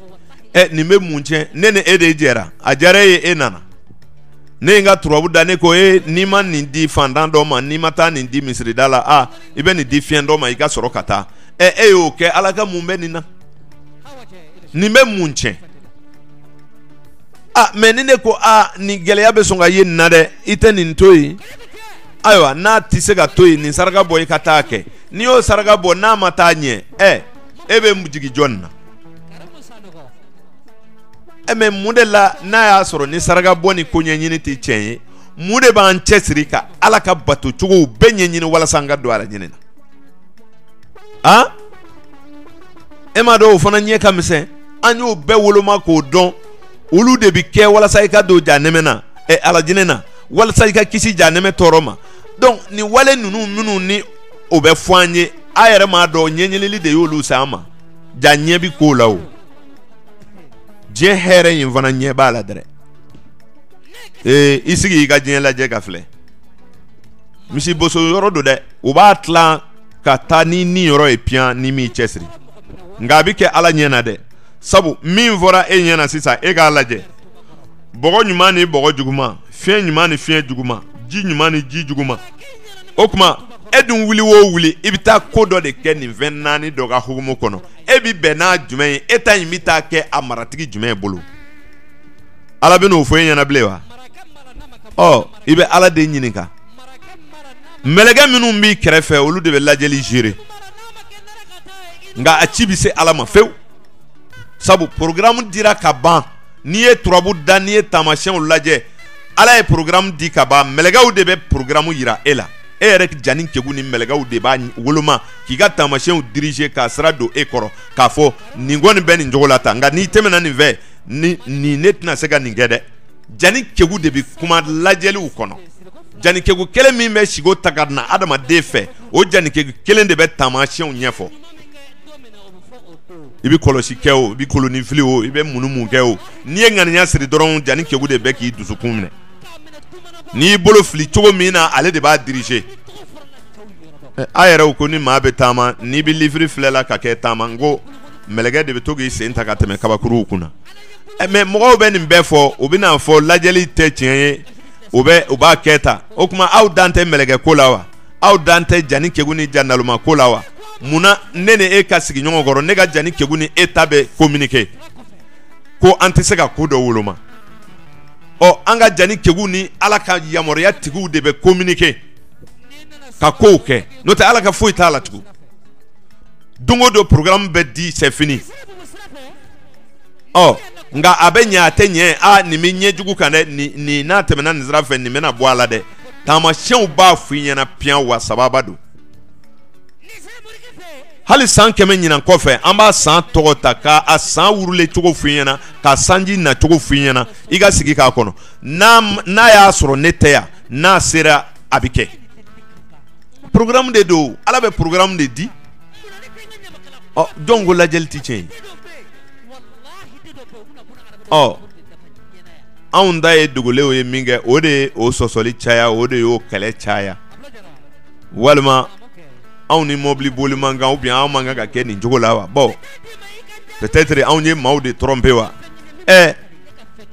ɛ nin bɛ mun tiɲɛ ne ni e de jɛra a diyara e ye e nana ne ye n ka turabu da ne ko e n'i ma nin di fantan dɔ ma n'i ma taa nin di misirida la a i bɛ nin di fiɲɛ dɔ ma i ka sɔrɔ ka taa ɛ e y'o kɛ ala ka mun bɛ nin na nin bɛ mun tiɲɛ a mɛ ni ne ko a nin gɛlɛya bɛ sɔn ka ye nin na dɛ i tɛ nin to yen ayiwa n'a tɛ se ka to yen nin saraka bɔ i ka taa kɛ n'i y'o saraka bɔ n'a ma taa ɲɛ ɛ e bɛ jigin jɔn na e mɛ mun de la n'a y'a sɔrɔ ni saraka bɔ ni ko ɲɛɲini tɛ tiɲɛ ye mun de b'an cɛsiri ka ala ka bato cogow bɛɛ ɲɛɲini walasa an ka don alajinɛ na a e m'a dɔn o fana ɲɛ ka misɛn an y'o bɛɛ woloma k'o dɔn olu de bɛ kɛ walasa i ka don janɛmɛ na ɛ alajinɛ na walasa i ka kisi janɛmɛ tɔɔrɔ ma donc nin wale ninnu minnu ni o bɛ fɔ an ye a yɛrɛ m'a dɔn ɲɛɲinili de y'olu se an ma jaa ɲɛ bi ko la o diɲɛ hɛrɛ in fana ɲɛ b'a la dɛrɛ ee i sigi i ka diɲɛ lajɛ ka filɛ misi boso yɔrɔ don dɛ u b'a tilan ka taa n'i niyɔrɔ ye piyan n'i m'i cɛsiri nka a bɛ kɛ ala ɲɛ na dɛ sabu min fɔra e ɲɛ na sisan e k'a lajɛ bɔgɔ ɲuman ni bɔgɔ juguman fiɲɛ ɲuman ni fiɲɛ juguman ji ɲuman ni ji juguman o tuma e dun wuli o wuli i bɛ taa ko dɔ de kɛ nin fɛn naani dɔ ka hukumu kɔnɔ e bɛ bɛn n'a jumɛn ye e ta in bɛ taa kɛ a maratigi jumɛn bolo ala bɛn'o fɔ e ɲɛ na bilen wa ɔ i bɛ ala de ɲininka mɛlɛkɛ minnu b'i kɛrɛfɛ olu de bɛ lajɛli gérer nka a ci bɛ se ala ma fewu sabu porokaramu dira ka ban n'i ye turabu da n'i ye taamasyɛnw lajɛ ala ye porokaramu di ka ban mɛlɛkɛw de bɛ porokaramu jira e la e yɛrɛ janin kegun ni mɛlɛkɛw de b'a woloma k'i ka taamasyɛnw diriger k'a sira don e kɔrɔ k'a fɔ nin kɔni bɛ nin cogo la tan nka n'i tɛmɛna nin fɛ nin ne tɛna se ka nin kɛ dɛ janin kegun de bɛ kuma lajɛliw kɔnɔ janin kegun kelen min bɛ sigo ta ka na adamaden fɛ o janin kegun kelen de bɛ taamasyɛnw ɲɛfɔ i bɛ kɔlɔsi kɛ o i bɛ kolonin fili o i bɛ mun mun kɛ o n'i ye ŋaniya siri dɔrɔn janin kegun de bɛ k'i dusukun minɛ n'i bolo fili cogo min na ale de b'a diriger a yɛrɛ ko ni maa bɛ taama n'i bɛ livre filɛ la ka kɛ taama n ko mɛlɛkɛ de bɛ to k'i sen ta ka tɛmɛ kabakuruw kunna mɛ mɔgɔw bɛ nin bɛɛ fɔ u bɛna a fɔ lajɛli tɛ tiɲɛ ye ɛ u b'a kɛ ta o tuma aw dan tɛ mɛlɛkɛ ko la wa aw dan tɛ janin kegun ni janin naloma ko la wa munna ne ni e ka sigi ɲɔgɔn kɔrɔ ne ka janin kegun ni e ta bɛ communiquer ko an tɛ se ka ko dɔ woloma ɔ an ka jani kegu ni ala ka yamaruya tigiw de bɛ kominike ka kow kɛ n'o tɛ ala ka foyi t'a la tugun don o don programme bɛ di c'est fini ɔ nka a bɛ ɲɛ a tɛ ɲɛ a nin bɛ ɲɛ jugu kan dɛ nin nin n'a tɛmɛna nin sira fɛ nin bɛna bɔ a la dɛ taamasiyɛnw b'a f'i ɲɛna piyan wa sababa don hali san kɛmɛ ɲinan kɔfɛ an b'a san tɔgɔ ta k'a san wurule cogo f'i ɲɛna ka sanji nacogo f'i ɲɛna i ka sigi k'a kɔnɔ n'a y'a sɔrɔ ne tɛ yan n'a sera a bɛ kɛ programme de don ala bɛ programme de di jɔn ko lajɛli tɛ tiɲɛ ye ɔ anw ta ye dogolenw ye min kɛ o de ye o sɔsɔli caya o de y'o kɛlɛ caya walima anw ni mɔbili boli man kan ou bien anw man kan ka kɛ nin cogo la wa bon peut-être anw ye maaw de tromper wa ɛ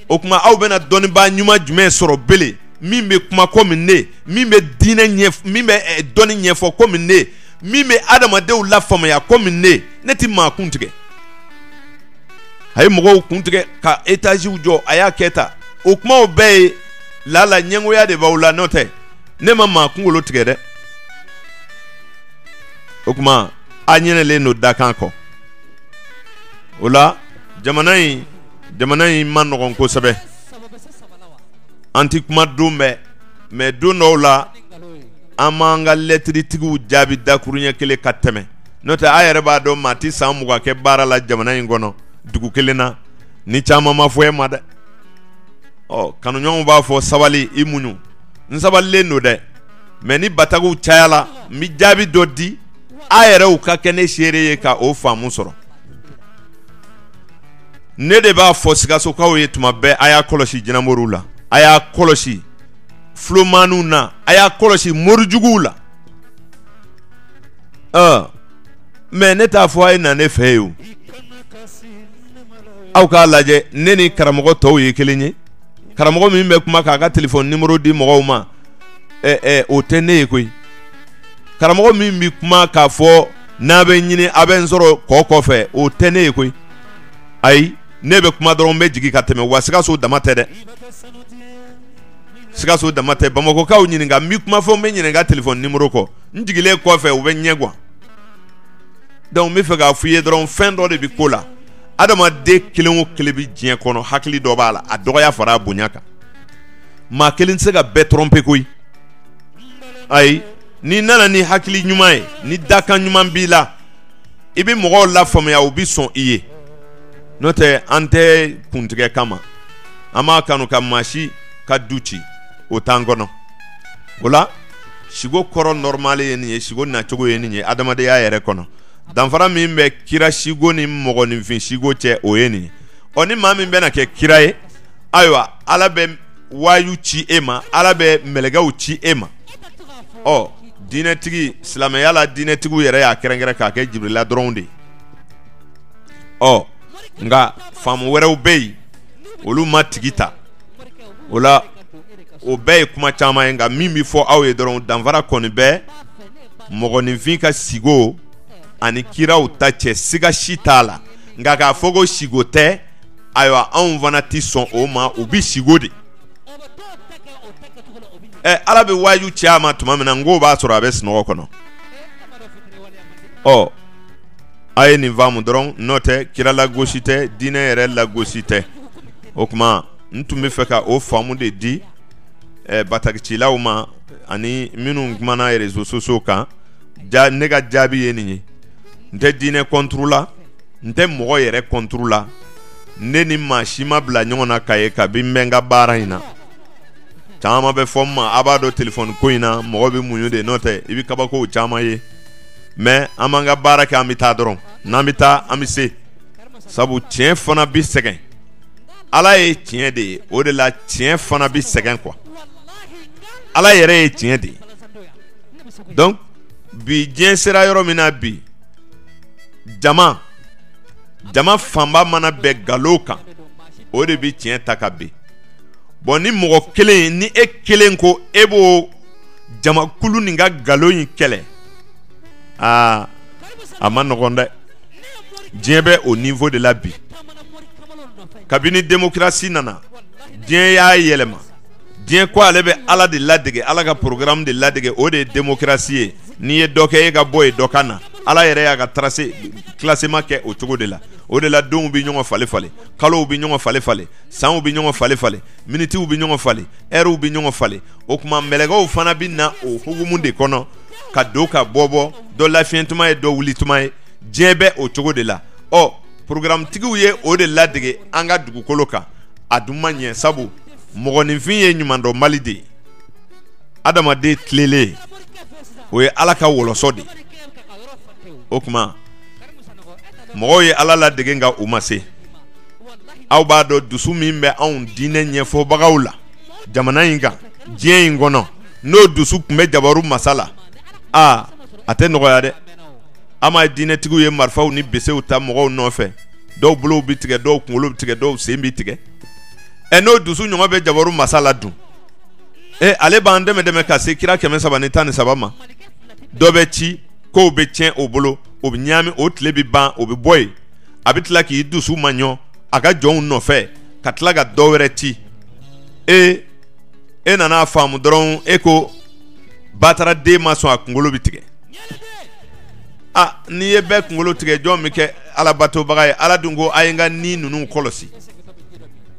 o kuma aw bɛna dɔnniibaa ɲuman jumɛn sɔrɔ belen min bɛ kuma komi ne min bɛ diinɛ min bɛ dɔnni ɲɛfɔ komi ne min bɛ adamadenw lafaamuya komi ne ne tɛ maa kun tigɛ a ye mɔgɔw kun tigɛ ka étagew jɔ a y'a kɛ ta o kumaw bɛɛ ye laala ɲɛngoya de b'aw la n'o tɛ ne ma maa kunkolo tigɛ dɛ o kuma a ɲɛnɛlen don dakan kɔ o la jamana in jamana in ma nɔgɔn kosɛbɛ an tɛ kuma don bɛɛ mɛ don dɔw la an b'an ka lɛtiritigiw jaabi dakuruɲɛ kelen ka tɛmɛ n'o tɛ a yɛrɛ b'a dɔn maa tɛ san mugan kɛ baara la jamana in kɔnɔ dugu kelen na ni caman ma fɔ e ma dɛ ɔ kanuɲɔgɔnw b'a fɔ sabali i muɲu n sabalilen don dɛ mɛ ni batakiw cayala n bɛ jaabi dɔ di a yɛrɛw ka kɛ ne seere ye ka o faamu sɔrɔ ne de b'a fɔ sikasokaw ye tuma bɛɛ a y'a kɔlɔsi jinɛmoriw la a y'a kɔlɔsi fulomaninw na a y'a kɔlɔsi morijuguw la ɔ mɛ ne t'a fɔ a ye na ne fɛ ye o aw k'a lajɛ ne ni karamɔgɔ tɔw ye kelen ye karamɔgɔ min bɛ kuma k'a ka telefɔni nimoro di mɔgɔw ma ɛ ɛ o tɛ ne ye koyi karamɔgɔ min bɛ kuma k'a fɔ n'a bɛ n ɲini a bɛ n sɔrɔ kɔ kɔfɛ o tɛ ne ye koyi ayi ne bɛ kuma dɔrɔn n bɛ jigin ka tɛmɛ wa sikaso dama tɛ dɛ sikaso dama tɛ bamakɔkaw ɲininka n bɛ kuma fɔ n bɛ ɲininka telefɔni nimoro kɔ n jigilen kɔfɛ u bɛ ɲɛ guwan donc n bɛ fɛ k'a f'i ye dɔrɔn fɛn dɔ de bɛ ko la adamaden kelen o kelen bɛ diɲɛ kɔnɔ hakili dɔ b'a la a dɔgɔya fara a bonya kan maa kelen tɛ se ka bɛɛ tɔrɔnpe koyi ayi n'i nana ni hakili ɲuman ye ni dakan ɲuman b'i la i bɛ mɔgɔw lafaamuya u bɛ sɔn i ye n'o tɛ an tɛ kuntigɛ kama an m'a kanu ka maa si ka du ci o t'an kɔnɔ o la siko kɔrɔ nɔrɔmale ye nin ye siko nacogo ye nin ye adamadenya yɛrɛ kɔnɔ danfara min bɛ kira siko ni mɔgɔninfin siko cɛ o ye nin ye ɔ ni maa min bɛna kɛ kira ye ayiwa ala bɛ wayu ci e ma ala bɛ mɛlɛkɛw ci e ma ɔ diinɛtigi silamɛya la diinɛtigiw yɛrɛ y'a kɛrɛnkɛrɛn k'a kɛ jibirila dɔrɔn de ye ɔ nka faamu wɛrɛw bɛ yen olu ma tigi ta o la o bɛɛ ye kuma caman ye nka min bɛ fɔ aw ye dɔrɔn danfara kɔni bɛ mɔgɔninfin ka sigo ani kiraw ta cɛ siga si t'a la nka k'a fɔ ko sigo tɛ ayiwa anw fana tɛ sɔn o ma u bɛ siko de ɛ ala bɛ waju ci a ma tuma min na n k'o b'a sɔrɔ a bɛ sunɔgɔ kɔnɔ ɔ a ye nin faamu dɔrɔn n'o tɛ kira lagosi tɛ diinɛ yɛrɛ lagosi tɛ o tuma n tun bɛ fɛ ka o faamu de di ɛ batakicilaw ma ani minnu kumana réseaux sociaux kan ne ka jaabi ye nin ye n tɛ diinɛ kɔnturu la n tɛ mɔgɔ yɛrɛ kɔnturu la ne ni maa si ma bila ɲɔgɔn na ka ye kabi n bɛ n ka baara in na caman bɛ fɔ n ma a b'a dɔn telefɔni ko in na mɔgɔ bɛ muɲu de n'o tɛ i bɛ kabakow caman ye mɛ an b'an ka baara kɛ an bɛ taa dɔrɔn n'an bɛ taa an bɛ se sabu tiɲɛ fana bɛ sɛgɛn ala ye tiɲɛ de ye o de la tiɲɛ fana bɛ sɛgɛn kuwa ala yɛrɛ ye tiɲɛ de ye donc bi diɲɛ sera yɔrɔ min na bi jama jama fanba mana bɛn nkalon kan o de bɛ tiɲɛ ta ka bin bɔn ni mɔgɔ kelen ni e kelen ko e b'o jamakulu nin ka nkalon in kɛlɛ aa a ma nɔgɔn dɛ diɲɛ bɛ o nivo de la bi kabini democratie nana diɲɛ y'a yɛlɛma diɲɛ ko ale bɛ ala de ladege ala ka porogaramu de ladege o de ye democratie ye n'i ye dɔ kɛ e ka bɔ yen dɔ ka na ala yɛrɛ y'a ka tracé classement kɛ o cogo de la o de la donw bɛ ɲɔgɔn fale fale kalow bɛ ɲɔgɔn fale fale sanw bɛ ɲɔgɔn fale fale minitiw bɛ ɲɔgɔn fale ɛriw bɛ ɲɔgɔn fale o tuma mɛlɛkɛw fana bɛ na o hukumu de kɔnɔ ka don ka bɔ bɔ dɔ lafiɲɛ tuma ye dɔ wuli tuma ye diɲɛ bɛ o cogo de la ɔ programme tigiw ye o de ladege an ka dugukolo kan a dun ma ɲɛ sabu mɔgɔninfin ye ɲumandɔnbali de ye adamaden tilelen o ye ala ka wɔlɔsɔ de o tuma mɔgɔw ye ala ladege nka u ma se aw b'a dɔn dusu min bɛ anw diinɛ ɲɛfɔbagaw la jamana in kan diɲɛ in kɔnɔ n'o dusu tun bɛ jabaru masa la aa a tɛ nɔgɔya dɛ an ma diinɛtigiw ye marifaw ni besew ta mɔgɔw nɔfɛ dɔw bolow bɛ tigɛ dɔw kunkolo bɛ tigɛ dɔw sen bɛ tigɛ ɛ n'o dusu ɲɔgɔn bɛ jabaru masa la dun e ale b'an dɛmɛ dɛmɛ ka se kira kɛmɛ saba ni tan ni saba ma dɔ bɛ ci kow bɛ tiɲɛ o bolo o bɛ ɲaami o tile bɛ ban o bɛ bɔ yen a bɛ tila k'i dusu maɲɔ a ka jɔnw nɔfɛ ka tila ka dɔ wɛrɛ ci e e nana a faamu dɔrɔn e ko bataraden ma sɔn a kunkolo bɛ tigɛ a n'i ye bɛɛ kunkolo tigɛ jɔn bɛ kɛ alabatobaga ye ala dun ko a ye n ka ni ninnu kɔlɔsi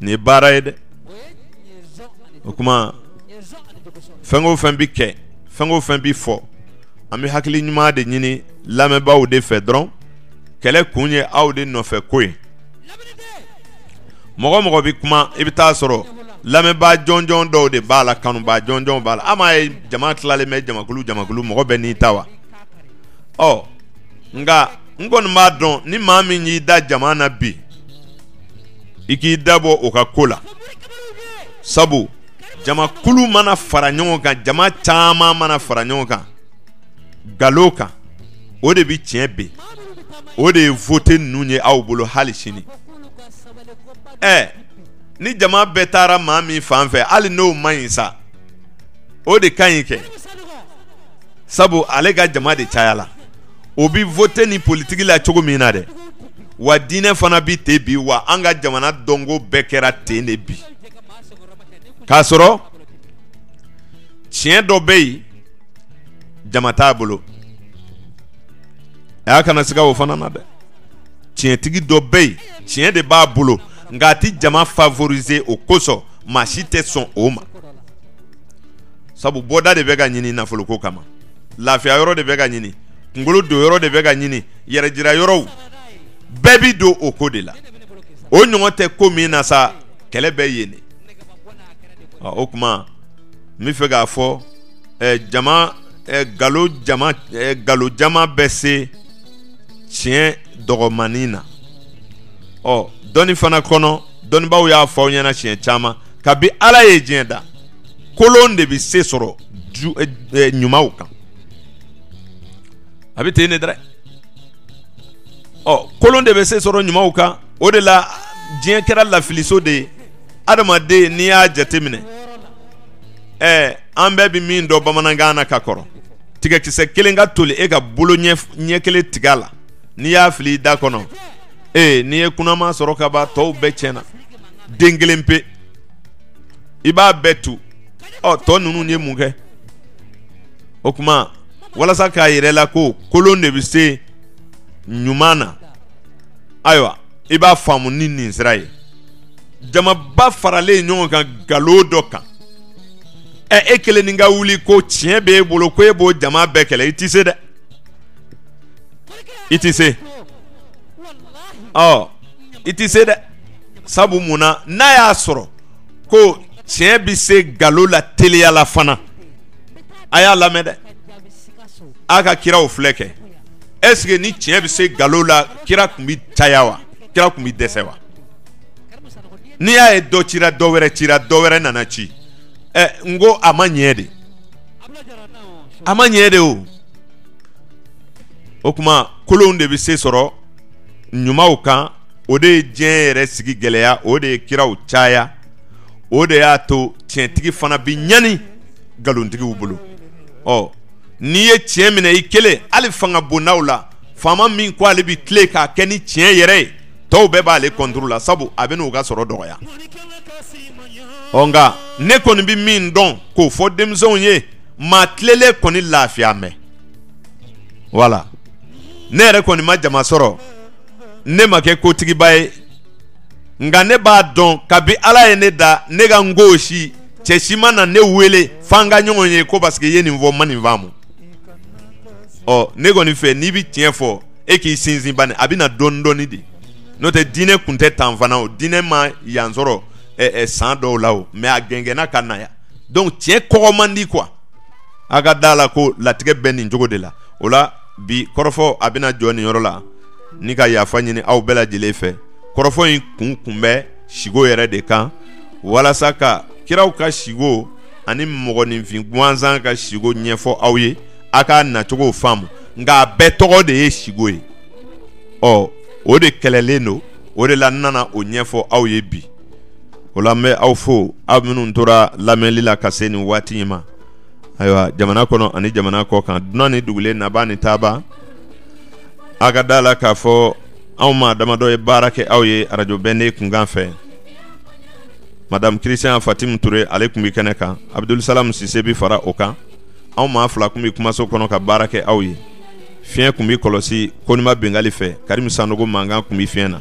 nin ye baara ye dɛ o tuma fɛn o fɛn bɛ kɛ fɛn o fɛn bɛ fɔ an bɛ hakili ɲuman de ɲini lamɛnbaaw de fɛ dɔrɔn kɛlɛ kun ye aw de nɔfɛko ye mɔgɔ mɔgɔ bɛ kuma i bɛ t'a sɔrɔ lamɛnbaa jɔnjɔn dɔw de b'a la kanubaa jɔnjɔn b'a la an m'a ye jama tilalen bɛ jamakulu jamakulu mɔgɔ bɛɛ n'i ta wa ɔ nka n kɔni b'a dɔn ni maa min y'i da jama na bi i k'i dabɔ o ka ko la sabu jamakulu mana fara ɲɔgɔn kan jama caman mana fara ɲɔgɔn kan galo kan o de bɛ tiɲɛ bin o de ye vote ninnu ye aw bolo hali sini ɛ ni jama bɛɛ taara maa min fan fɛ hali n'o man ɲi sa o de ka ɲi kɛ sabu ale ka jama de cayala o bɛ vote ni politiki la cogo min na dɛ wa diinɛ fana bɛ ten bi wa an ka jamana dɔnko bɛɛ kɛra ten de bi k'a sɔrɔ tiɲɛ dɔ bɛ yen jama t'a bolo a y'a kana siga o fana na dɛ tiɲɛtigi dɔ bɛ yen tiɲɛ de b'a bolo nka a tɛ jama favoriser o kosɔn maa si tɛ sɔn o ma sabu bɔda de bɛ ka ɲini nafoloko kama lafiya yɔrɔ de bɛ ka ɲini kunkolo don yɔrɔ de bɛ ka ɲini yɛrɛ jira yɔrɔw bɛɛ bɛ don o ko de la o ɲɔgɔn tɛ ko min na sa kɛlɛ bɛ yen de o tuma n b'a fɛ k'a fɔ jama galo jama bɛ se tiɲɛ dɔgɔmanin na ɔ dɔnni fana kɔnɔ dɔnnibaaw y'a fɔ aw ɲɛna siɲɛ caman kabi ala ye diɲɛ da kolon de bɛ se sɔrɔ ɲumanw kan a bɛ ten ne dɛ ɔ kolon de bɛ se sɔrɔ ɲumanw kan o de la diɲɛ kɛra lafiliso de ye adamaden n'i y'a jateminɛ ɛɛ an bɛɛ bɛ min dɔn bamanankan na ka kɔrɔ tigɛkisɛ kelen ka toli e ka bolo ɲɛ kelen tigɛ a la n'i y'a fili i da kɔnɔ ee n'i ye kunnama sɔrɔ ka ban tɔw bɛɛ tiɲɛna den kelen pe i b'a bɛɛ tu ɔ tɔ ninnu ye mun kɛ o tuma walasa k'a yira i la ko kolon de bɛ se ɲuman na ayiwa i b'a faamu ni nin sira ye jamaba faralen ɲɔgɔn kan nkalon dɔ kan ɛ e kelen nin ka wuli ko tiɲɛ b'e bolo ko e b'o jama bɛɛ kɛlɛ i tɛ se dɛ i tɛ se ɔ i tɛ se dɛ sabu mun na n'a y'a sɔrɔ ko tiɲɛ bɛ se nkalon la teliya la fana. a y'a lamɛn dɛ a ka kiraw filɛ kɛ est-ce que ni tiɲɛ bɛ se nkalon la kira tun bɛ caya wa kira tun bɛ dɛsɛ wa n'i y'a ye dɔ cira dɔ wɛrɛ cira dɔ wɛrɛ nana ci ɛ n ko a ma ɲɛ de a ma ɲɛ de o o tuma kolonw de bɛ se sɔrɔ ɲumanw kan o de ye diɲɛ yɛrɛ sigi gɛlɛya o de ye kiraw caya o de y'a to tiɲɛtigi fana bɛ ɲani nkalontigiw bolo ɔ n'i ye tiɲɛ minɛ i kelen hali fanga bondaw la faama min ko ale bɛ tilen k'a kɛ ni tiɲɛ yɛrɛ ye tɔw bɛɛ b'ale kɔnturu la sabu a bɛn'u ka sɔrɔ dɔgɔya ɔ nka ne kɔni bɛ min dɔn k'o fɔ denmisɛnw ye maa tilelen kɔni lafiya mɛn wala ne yɛrɛ kɔni ma jama sɔrɔ ne ma kɛ kotigiba ye nka ne b'a dɔn kabi ala ye ne da ne ka n ko si cɛ si ma na ne wele f'an ka ɲɔgɔn ye ko paseke i ye nin fɔ ma nin faamu ɔ ne kɔni fɛ n'i bɛ tiɲɛ fɔ e k'i sinsin bani a bɛ na dɔɔni dɔɔni de n'o tɛ diinɛ kun tɛ tan fana o diinɛ ma yan sɔrɔ ɛ ɛ san dɔw la o mais a gɛngɛnna ka na yan donc tiɲɛ kɔgɔ man di quoi a ka d'a la ko latigɛ bɛ nin cogo de la o la bi kɔrɔfɔ a bɛna jɔ nin yɔrɔ la. ni ka yafa ɲini aw bɛɛ lajɛlen fɛ kɔrɔfɔ in kun kun bɛ sigo yɛrɛ de kan walasa ka kiraw ka sigo ani mɔgɔninfin gansan ka sigo ɲɛfɔ aw ye a k'a nacogo faamu nka a bɛɛ tɔgɔ de ye sigo ye ɔ o de kɛlɛlen don o de la n nana o ɲɛfɔ aw ye bi o la n bɛ aw fo aw minnu tora lamɛnli la ka se nin waati in ma ayiwa jamana kɔnɔ ani jamana kɔkan dunan ni dugulen naba ni taaba a ka da a la k'a fɔ anw maa damadɔ ye baara kɛ aw ye arajo bɛnde kunkan fɛ madamu christian fatimu ture ale tun bɛ kɛnɛ kan abudulsalam sise bɛ fara o kan anw maa fila tun bɛ kumaso kɔnɔ ka baara kɛ aw ye fiɲɛ tun bɛ kɔlɔsi konima bengali fɛ karimu sanogo mankan tun bɛ fiɲɛ na